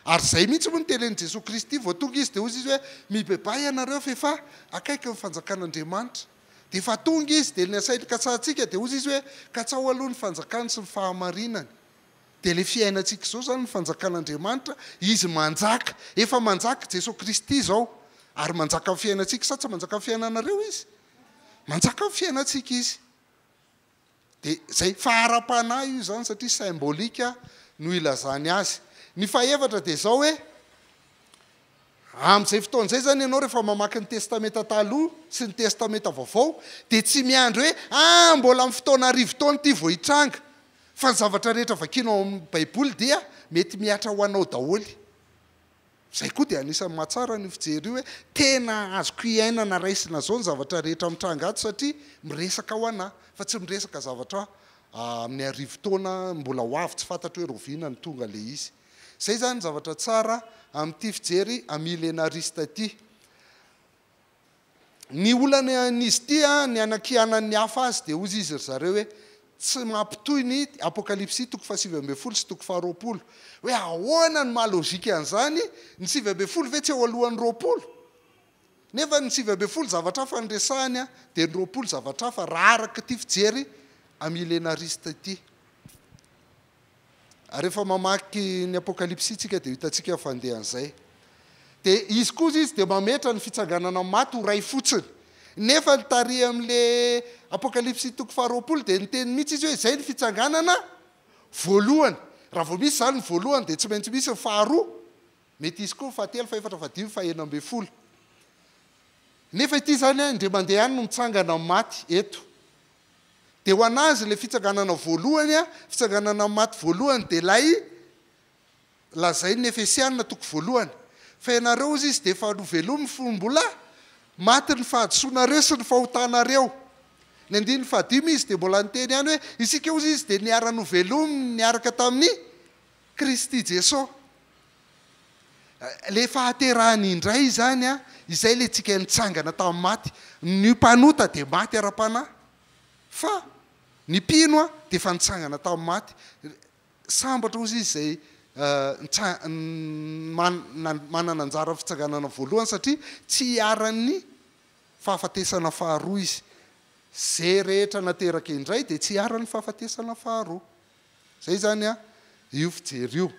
Ary izay mihitsy moa no tenenin'i Jesoa Kristy, vao tonga Izy dia hoy Izy hoe, mibebaha ianareo fa efa akaiky ny fanjakan'Andriamanitra. Dia efa tonga Izy, dia ny asainy katsahantsika dia hoy Izy hoe, katsaho aloha ny fanjakany sy ny fahamarinany. Dia ilay fiainantsika izao izany ny fanjakan'Andriamanitra, Izy manjaka, efa manjaka Jesoa Kristy izao, ary manjaka amin'ny fiainantsika, sa tsy manjaka amin'ny fiainanareo Izy? Manjaka ny fiainantsika izy. Dia izay, fa ara-panahy io izany satria symbolique no ilazany azy. Ny fahefatra dia izao hoe, amin'izay fotoana izay izany ianao rehefa mamaky ny Testamenta Taloha sy ny Testamenta Vaovao dia tsy miandry hoe, ah, mbola amin'ny fotoana arivo taona ity vao hitranga, fa ny zavatra rehetra vakianao ao amin'ny Baiboly dia mety mihatra ho anao daholo. Izay koa dia anisan'ny mahatsara an'io fijery io hoe tena azoko iainana raisina izao ny zavatra rehetra mitranga ato satria miresaka ho an'ahy fa tsy miresaka zavatra amin'ny arivo taona mbola ho avy tsy fantatro hoe rahoviana no tonga ilay izy. Izay izany ny zavatra tsara amin'ity fijery amillenariste ity. Ny olany an'izy ity, ny hanakianan'ny hafa azy, dia hozy izy ry zareo hoe, tsy mampitohy ny, Apokalypsy toko fahasivy ambin'ny folo sy toko faharoapolo, hoe ahoana no maha logika an'izany, ny sivy ambin'ny folo ve tsy eo alohan'ny roapolo? Nefa ny sivy ambin'ny folo zavatra hafa no resahany an, dia ny roapolo zavatra hafa, raha araka ity fijery milenarista ity. Rehefa mamaky ny Apokalypsy isika dia hitantsika ny fandehan'izay. Dia izy kosa izy dia mametra ny fitsanganana amin'ny maty ho iray fotsiny. Nefa ny tarihan'ilay Apokalypsy toko faharoapolo dia niteny mihitsy izy hoe izay ny fitsanganana voalohany. Raha vao misy izany ny voalohany dia tsy maintsy misy ny faharoa. Mety hisy koa ny fahatelo, fahefatra, fahadimy, fahenina ambin'ny folo. Nefa ity izany indray mandeha ihany no mitsangana amin'ny maty eto. Dia ho an'azy ilay fitsanganana voalohany, fitsanganana maty voalohany, dia ilay lazain'ny Efesiana toko voalohany, Fa ianareo, hozy izy, dia efa novelomin'ny fo mbola maty ny fahadisoanareo sy ny fahotanareo. Ny andininy fahadimy izy dia mbola niteny ihany hoe, Isika, hozy izy, dia niara-novelomy niaraka tamin'i Kristy Jesoa. Ilay fahaterahany indray izany an! Izay ilay tsika nitsangana tamin'ny maty. Ny mpanota dia maty ara-panahy. Fa ny mpino an, dia efa nitsangana tamin'ny maty. Sambatra hozy izy izay manana anjara amin'ny fitsanganana voalohany, satria tsy hiharan'ny fahafatesana faharoa izy. Izay rehetra nateraka indray dia tsy hiharan'ny fahafatesana faharoa. Zay zany an io fijery io.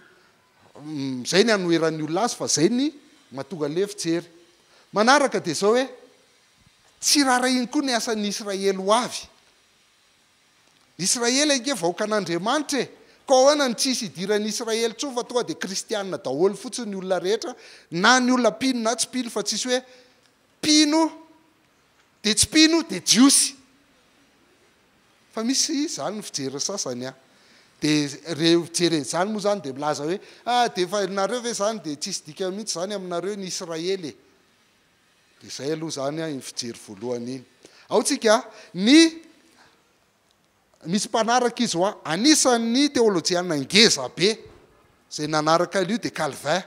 Zay ny anoheran'ny olona azy fa zay ny mahatonga le fijery. Manaraka dia zao hoe tsy rarahiany koa ny asan'ny Israely ho avy. Israely ange vahoakan'Andriamanitra e! Ka ahoana no tsy hisy hidiran'ny Israely intsony fa tonga dia kristianina daholo fotsiny ny olona rehetra na ny olona mpino na tsy mpino fa tsisy hoe mpino Dia tsy mpino dia jiosy. Fa misy izany ny fijery ny sasany an. Dia reo jereny izany moa izany dia milaza hoe ah dia efa nareo ve izany dia tsisy dikany mihitsy izany aminareo ny Israely e. Dia izay aloha izany an iny fijery voalohany iny. Ao tsika ny Misy mpanaraka izy hoa. Anisan'ny teolojiana ngeza be izay nanaraka an'io dia Calvin.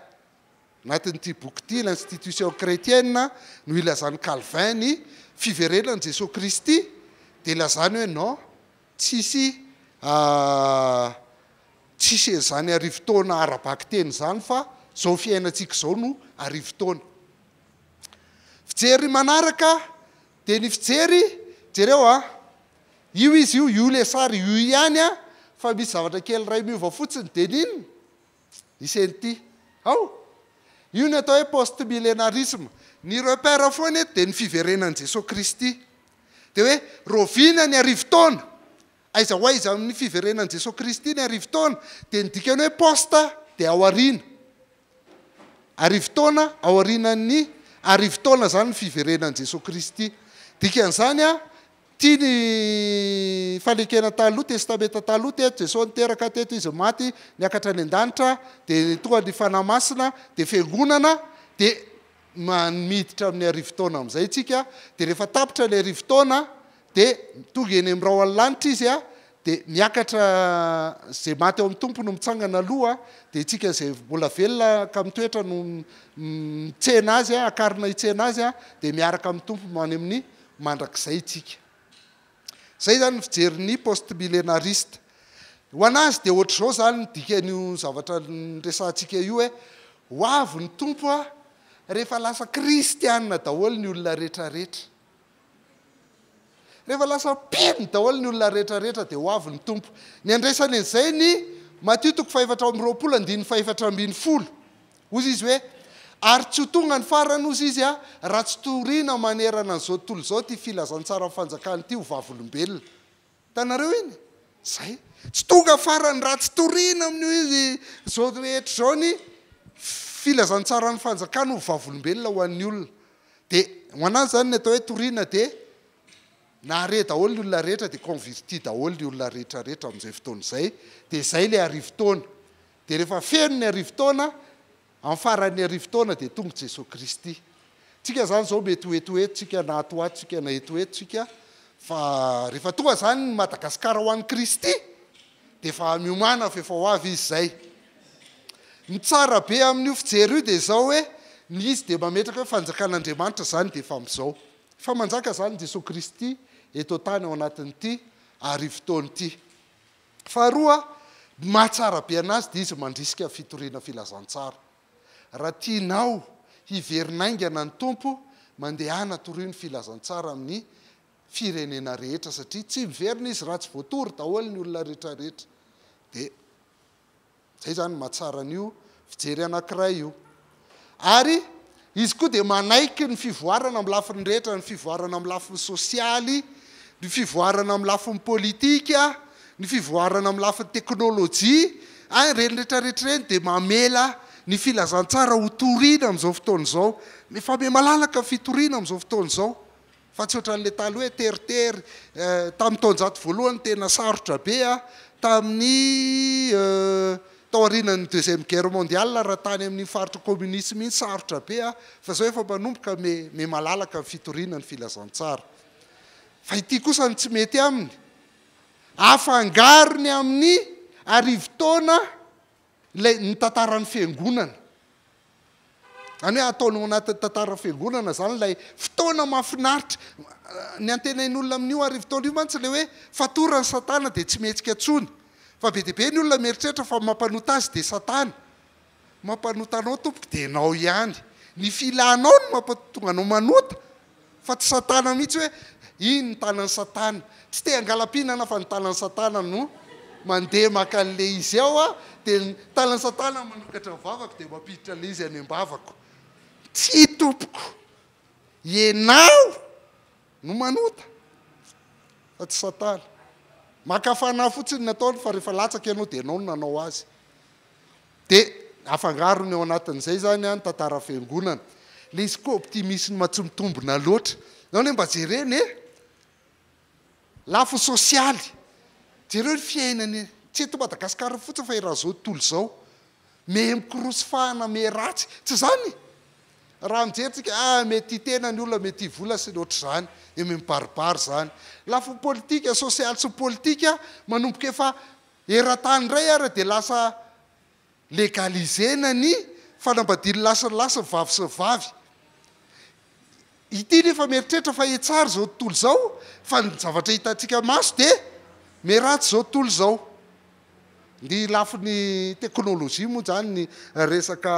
Anatin'ity boky ity, L'Institution Chretienne, no ilazan'i Calvin ny fiverenan'i Jesoa Kristy, dia ilazany hoe non, tsisy tsisy an'izany arivo taona ara-bakiteny izany fa izao fiainantsika izao no arivo taona. Fijery manaraka dia ny fijery, jereo a! Io izy io io le sary io ihany an fa misy zavatra kely iray miova fotsiny de n'inona? I Senty ao io ny atao hoe post milenarisme ny repère foana eto de ny fiverenan'i Jesoa Kristy de hoe raoviana ny arivo taona? aiza ho aiza amin'ny fiverenan'i Jesoa Kristy ny arivo taona? de ny dikany hoe post dia aoriana Arivo taona aorianan'ny arivo taona izany ny fiverenan'i Jesoa Kristy. Dikan'izany, tia ny fanekena taloha, Testamenta Taloha, teto Jesoa niteraka, teto Izy maty, niakatra any an-danitra, dia nitoha ny Fanahy Masina, dia Fiangonana, dia miditra amin'ny arivo taona amin'izay isika, dia rehefa tapitra ny arivo taona, Dia tonga eny amin'ny rahon'ny lanitra izy a, dia miakatra, izay maty ao amin'ny Tompo no mitsangana aloha, dia isika izay mbola velona ka mitoetra no mitsena Azy, akarina hitsena Azy, dia miaraka amin'ny Tompo any amin'ny mandrakizay isika. Izay izany ny fijerin'ny post-millénariste. Ho an'azy dia ohatr'izao izany ny dikan'io zavatra niresahantsika io hoe, ho avy ny Tompo a, rehefa lasa kristianina daholo ny olona rehetrarehetra. Rehefa lasa pim daholo ny olona rehetra rehetra dia ho avy ny Tompo. Ny andraisany an'izay ny Matio toko fahefatra amby roapolo andininy fahefatra ambin'ny folo. Hozy Izy hoe, Ary tsy ho tonga ny farany, hozy Izy a, raha tsy toriana manerana an'izao tontolo izao ity filazantsaran'ny fanjakana ity ho vavolombelona. Hitanareo iny? Izay. Tsy tonga farany raha tsy toriana amin'io izy izao rehetra izao ny filazantsaran'ny fanjakana ho vavolombelona ho an'ny olona. Dia ho an'azy izany ny atao hoe toriana dia nahare daholo ny olona rehetra dia converti daholo ny olona rehetra rehetra amin'izay fotoana izay. Dia izay ilay arivo taona. Dia rehefa feno ny arivo taona, Amin'ny faran'ny arivo taona dia tonga Jesoa Kristy. Tsika izany izao mety ho etoetontsika na atoatontsika na etoetontsika fa rehefa tonga izany ny Madagasikara ho an'i Kristy dia efa miomana fa efa ho avy izy izay. Ny tsara be amin'io fijery io dia izao hoe ny izy dia mametraka hoe fanjakan'Andriamanitra izany dia efa amin'izao. Efa manjaka izany Jesoa Kristy eto an-tany ao anatin'ity arivo taona ity. Faharoa, ny mahatsara be anazy dia izy mandrisika fitoriana filazantsara. Raha tianao hiverina haingana ny Tompo, mandehana torio ny filazantsara amin'ny firenena rehetra satria tsy miverina izy raha tsy voatory daholo ny olona retraretra. Dia. Izay izany no mahatsara an'io fijery anankiray io. Ary izy koa dia manaiky ny fivoarana amin'ny lafiny rehetra, ny fivoarana amin'ny lafiny sosialy, ny fivoarana amin'ny lafiny politika, ny fivoarana amin'ny lafiny teknolojia, a, ireny rehetra rehetra ireny dia mamela ny filazantsara ho toriana amin'izao fotoana izao. Mifamehy malalaka ny fitoriana amin'izao fotoana izao. Fa tsy ohatran'ilay taloha hoe teritery eh, tamin'ny taonjato voalohany tena sarotra be ah, tamin'ny eh, tao aorianan'ny deuxième guerre mondiale raha tany amin'iny faritra communisme iny sarotra be ah, fa zao efa manomboka me, me malalaka ny fitoriana ny filazantsara. Fa ity kosa no tsy mety aminy, afangarony amin'ny arivo taona Ilay ny tantaran'ny fiangonana. Izany hoe ataony ao anatin'ny tantaran'ny fiangonana izany ilay fotoana mahafinaritra. Ny antenain'olona amin'io arivo taona io mantsy ilay hoe fatoran'i Satana dia tsy mihetsika intsony. Fa be dia be ny olona mieritreritra fa ny mampanota azy dia Satana. Mampanota anao tompoko dia ianao ihany. Ny filanao no mampatonga anao manota Fa tsy satana mihitsy hoe iny ny tanan'i satana. Tsy te hangalam-pihinana fa ny tanan'i satana no mandeha maka an'ilay izy ao aho dia ny tanan'i satana manokatra ny vavako dia mampiditra ilay izy any am-bavako. Tsia tompoko, ianao no manota fa tsy satana. Maka fanahy fotsiny ny ataony fa rehefa latsaka ianao dia ianao no nanao azy. Dia afangarony ao anatin'izay izany ny tantaran'ny Fiangonana. Ilay izy koa optimisme tsy mitombina loatra. Ianao anie mba jerena e! Lafiny sosialy. Jereo ny fiainany, tsy eto Madagasikara fotsiny fa eran'izao tontolo izao. Mehe mikorosy fahana, mehe ratsy. Tsy izany? Raha mijery tsika, ah, mehe tia tena ny olona, mehe tia vola sy ny ohatr'izany. Dia mehe mibaribary izany. Lafiny politika, sosialy sy politika, manomboka efa Eran-tany indray ary dia lasa legaliser-na ny fanambadian'ny lahy sy ny lahy sy ny vavy sy ny vavy. Ity nefa mieritreritra fa hetsary izao tontolo izao fa ny zavatra hitantsika maso dia miharatsy izao tontolo izao. Ny lafiny teknolojia moa izany ny resaka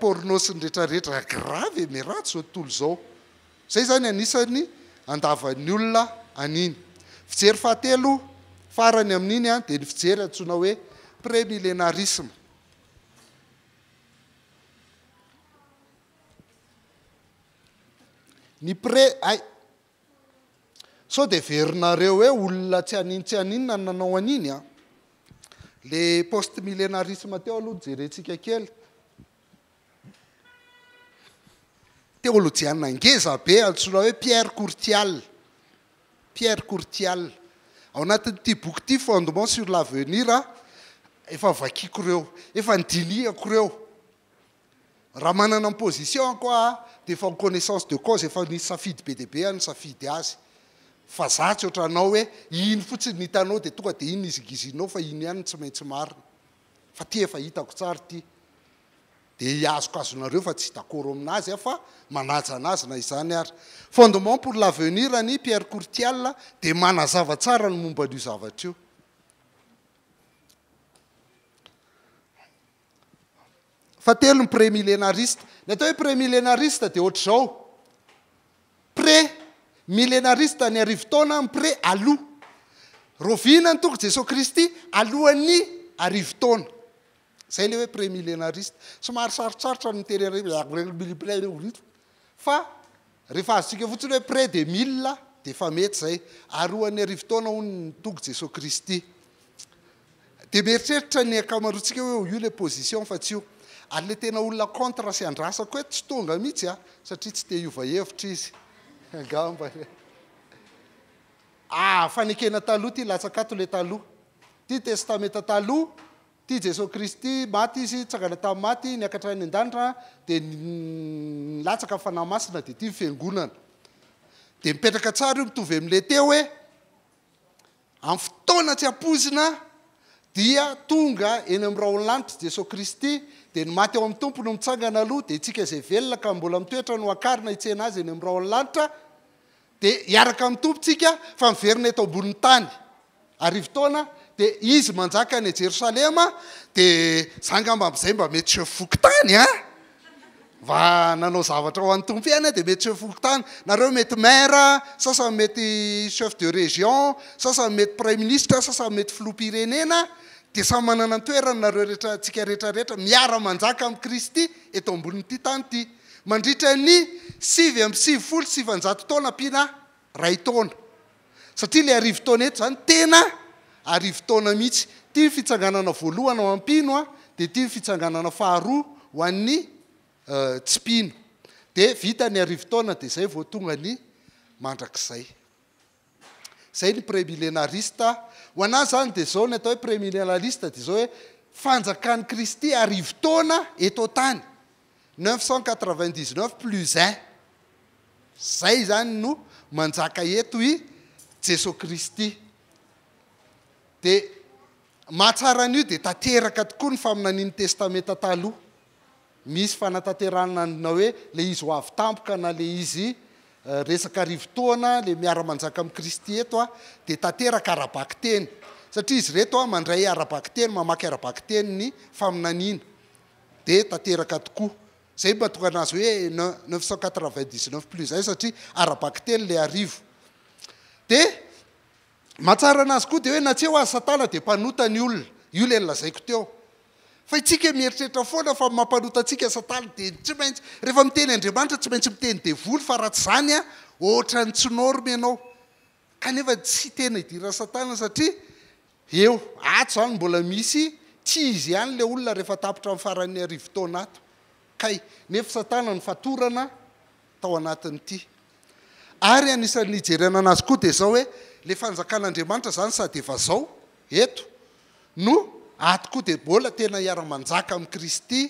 porno sy ny rehetra rehetra grave e, miharatsy izao tontolo izao. Izay izany anisan'ny andavan'ny olona an'iny. Fijery fahatelo farany amin'iny dia ny fijery antsoina hoe pré-millénarisme. Ny pré, hay! Sao dia heverinareo hoe olona tsy an'iny tsy an'inona no nanao an'iny an! Ilay post-millénarisme teo aloha no jerentsika kely. Teolojiana ngeza be antsoina hoe Pierre Courtial. Pierre Courtial. Ao anatin'ity boky ity Fondement sur l'avenir, efa vakiako ireo, efa nidinihako ireo. Raha manana ny position-ko aho dia efa en connaissance de cause, efa nisy safidy be dia be aho nisafidy azy. Fa za tsy ohatranao hoe iny fotsiny no hitanao dia tonga dia iny no hizingizininao fa iny ihany no tsy maintsy marina. fa ty efa hitako tsara ity dia hiazokazonareo fa tsy dakoro aminazy aho fa manaja anazy na izany ary. Fondement pour l'avenir an'i Pierre Courtial dia manazava tsara ny momba an'io zavatra io. Fahatelo ny pre-milenarista. Ny atao hoe pre-milenarista dia ohatr'izao, pre, milenarista ny arivo taona, mpre, aloha. Rovina ny tongo Jesoa Kristy alohan'ny arivo taona. Izay ilay hoe pre-milenarista. Somary sarotsarotra ny miteny an'ireny hoe, Fa rehefa azontsika fotsiny hoe près de mille dia efa mety izay. Ary ho an'ny arivo taona hono ny Tompo Jesoa Kristy. Dia mieritreritra ny ankamaroantsika hoe io ilay position fa tsy io. Ary ilay tena olona contre sy andrasako eto tsy tonga mihitsy an, satria tsy te hiova hevitra izy angamba. Ah, fanekena taloha ity, latsaka ato ilay taloha. Ity ny testamenta taloha, Tia Jesoa Kristy, maty Izy, nitsangana tamin'ny maty, niakatra any an-danitra, dia nilatsaka ny Fanahy Masina, dia ity ny Fiangonana. Dia mipetraka tsara io, mitovy amin'ilay teo hoe, amin'ny fotoana tsy ampoizina dia tonga eny amin'ny rahon'ny lanitra Jesoa Kristy, dia ny maty ao amin'ny Tompo no mitsangana aloha, dia isika izay velona ka mbola mitoetra no hakarina hitsena Azy eny amin'ny rahon'ny lanitra, Dia hiaraka amin'ny Tompo tsika fa miverina eto ambonin'ny tany. Arivo taona dia Izy manjaka any Jerosalema, dia za angamba amin'izay mba mety seho fokontany an! Mba nanao zavatra ho an'ny Tompo ihany aho dia mety seho fokontany. Nareo mety maire, sasany mety chef de région, sasany mety praiminisitra, sasany mety filoham-pirenena, dia samy manana ny toerany nareo rehetra, tsika rehetra rehetra miara-manjaka amin'i Kristy eto ambonin'ity tany ity. mandritra ny sivy amby sivifolo sy sivanjato taona ampiana iray taona, satria ilay arivo taona eto izany tena arivo taona mihitsy. Ity ny fitsanganana voalohany ho an'ny mpino, dia ity ny fitsanganana faharoa ho an'ny tsy mpino. Dia vita ny arivo taona dia izay vao tonga ny mandrakizay. Izay ny premilenarista. Ho an'ahy izany dia izao ny atao hoe premilenarista dia izao hoe fanjakan'i Kristy arivo taona eto an-tany, neuf cent quatre-vingt-dix-neuf plus un. Izay izany no manjaka eto i Jesoa Kristy. Dia mahatsara an'io dia tanteraka tokoa ny faminanian'ny Testamenta Taloha. Misy fanatanterahana ny na hoe ilay izy ho avy tampoka na ilay izy resaka arivo taona, ilay miara-manjaka amin'i Kristy eto dia tanteraka ara-bakiteny. Satria izy ireto mandray ara-bakiteny, mamaky ara-bakiteny ny faminaniana, dia tanteraka tokoa. Izay no mahatonga an'azy hoe neuf cent quatre-vingt-dix-neuf plus un satria ara-bakiteny ilay arivo. Dia Mahatsara anazy koa dia hoe na tsy eo aza satana dia mpanota ny olona, io ilay nolazaiko teo. Fa itsika mieritreritra foana fa mampanota antsika satana dia tsy maintsy rehefa miteny Andriamanitra tsy maintsy miteny devoly fa raha tsy izany an ohatran'ny tsy norme ianao kanefa tsy tena idiran'i satana satria eo ato izany mbola misy tsy izy ihany ilay olona rehefa tapitra ny faran'ny arivo taona ato kay nefa satana no fatorana tao anatin'ity. Ary anisan'ny hijerena anazy koa dia izao hoe ilay fanjakan'Andriamanitra izany sady efa zao eto no ato koa dia mbola tena hiara-manjaka amin'i Kristy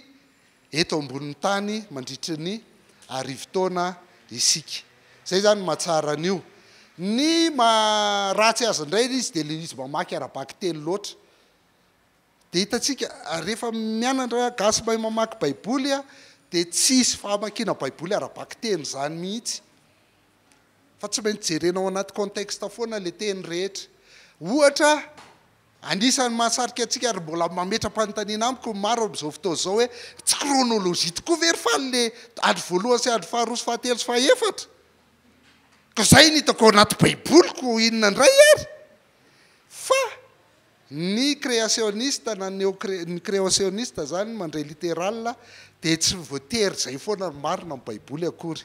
eto ambonin'ny tany mandritry ny arivo taona isika. Izay izany ny mahatsara an'io. Ny maharatsy azy indray izy dia ilay izy mamaky ara-bakiteny loatra. Dia hitantsika ary rehefa mianatra gasy mahay mamaky baiboly dia tsy hisy fahamakiana baiboly ara-bakiteny izany mihitsy fa tsy maintsy jerena ao anaty contexte foana ilay teny rehetra. Ohatra, anisan'ny mahasarika antsika ary mbola mametra-panontaniana amiko ny maro amin'izao fotoana izao hoe tsy chronologie tokoa ve ry faly ilay andro voalohany sy andro faharoa sy fahatelo sy fahaefatra? Ka izay no hitako ao anaty baiboliko inona indray ary? Fa ny kreasionista na ny ny kreasionista izany mandray literala dia tsy voatery izay foana no marina amin'ny Baiboly akory.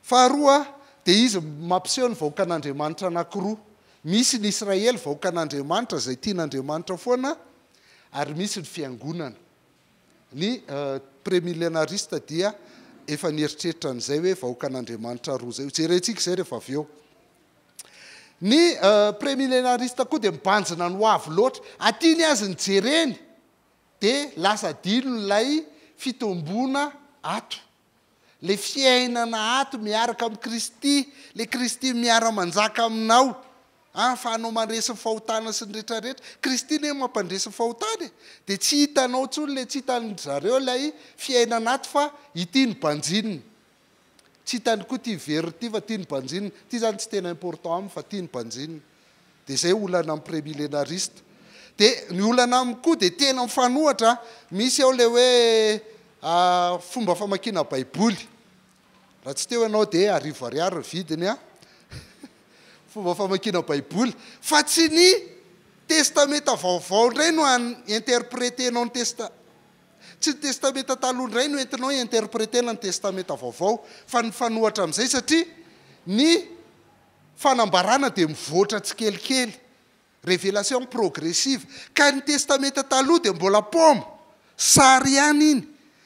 Faharoa, dia izy mampiseho ny vahoakan'Andriamanitra anankiroa. Misy ny Israely, vahoakan'Andriamanitra izay tian'Andriamanitra foana, ary misy ny fiangonana. Ny premilenarista dia efa nieritreritra an'izay hoe vahoakan'Andriamanitra roa izay. Hojerentsika izay rehefa avy eo. Ny premilenarista koa dia mibanjina ny ho avy loatra. Aty ny azy ny jereny dia lasa adino ilay fitomboana ato. Ilay fiainana ato miaraka amin'i Kristy, ilay Kristy miara-manjaka aminao, an, fa anao mandresy ny fahotana sy ny rehetra rehetra. Kristy anie no mampandresy ny fahotana e! Dia tsy hitanao intsony ilay, tsy hitan-dry zareo ilay fiainana ato fa ity no banjinina. Tsy hitany koa ity veriny ity fa tiany banjinina. Ity izany tsy tena important aminy fa tiany banjinina. Dia izay olana amin'ny pré-millénariste. Dia ny olana amiko koa dia tena mifanohitra. Misy ao ilay hoe fomba famakiana baiboly. Raha tsy teo ianao dia arivo ariary ny vidiny an! Fomba famakiana baiboly. Fa tsy ny testamenta vaovao indray no an-interpreter-nao ny testa. Tsy ny Testamenta Taloha indray no entinao hi-interpreter-na ny Testamenta Vaovao, fa nifanohitra amin'izay, satria ny fanambarana dia mivoatra tsikelikely, révélation progressive, ka ny Testamenta Taloha dia mbola paoma, sary ihany iny,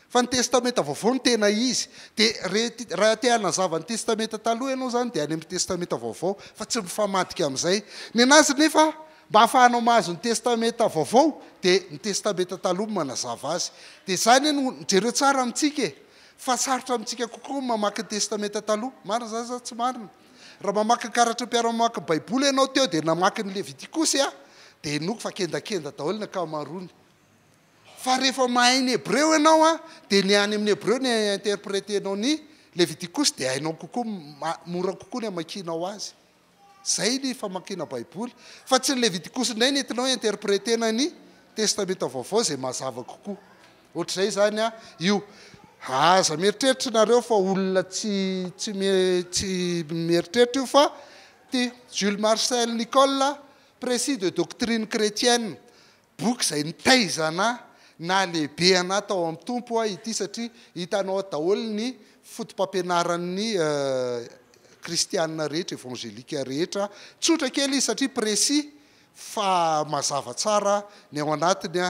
fa ny Testamenta Vaovao no tena izy. Dia rehet, raha te hanazava ny Testamenta Taloha ianao izany dia any amin'ny Testamenta Vaovao, fa tsy mifamadika amin'izay. Ny an'azy nefa, Mba hahafahanao mahazo ny Testamenta Vaovao dia ny Testamenta Taloha no manazava azy. Dia izany anie no, jereo tsara amintsika e! fa sarotra amintsika kokoa ny mamaky ny Testamenta Taloha. Marina izany sa tsy marina? Raha mamaky ny karatry ny mpiara-mamaky ny Baiboly ianao teo dia namaky ny Levitikosy aho, dia henoiko fa kendakenda daholo ny ankamaroany. Fa rehefa mahay ny Hebreo ianao an, dia ny any amin'ny Hebreo no hi-interpreter-nao ny Levitikosy dia hainao kokoa, mora kokoa ny hamakianao azy. Zay ny famakiana baiboly. Fa tsy ny levitikosy indray ny entinao interpretena ny testamenta vaovao izay mazava kokoa. Ohatr'izay izany an io. Aza mieritreritra nareo fa olona tsy tsy tsy mieritreritra io fa ty Jules Marcel Nicolle, Precis de doctrine chretienne, Boky izay nitaizana nahalehibeanà tao amin'ny Tompo aho ity satria hitanao ato daholo ny fotopampianaran'ny kristiana rehetra, evangelika rehetra. Tsotra kely izy satria précis fa mazava tsara ny ao anatiny.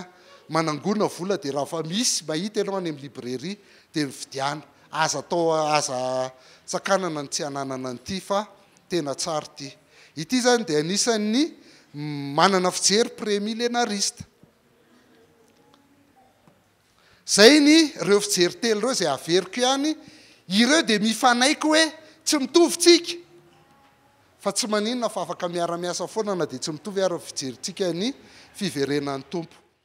Manangona vola dia raha fa misy mahita ianao any amin'ny librairie dia mividiana. Aza atao, aza tsakanana ny tsy hananana an'ity fa tena tsara ity. Ity izany dia anisan'ny manana fijery pre-milenarista. Izay ny ireo fijery telo ireo izay averiko ihany. Ireo dia mifanaiky hoe tsy mitovy tsika. Fa tsy maninona fa afaka miara-miasa foana na dia tsy mitovy ary ny fijerintsika ny fiverenan'ny Tompo.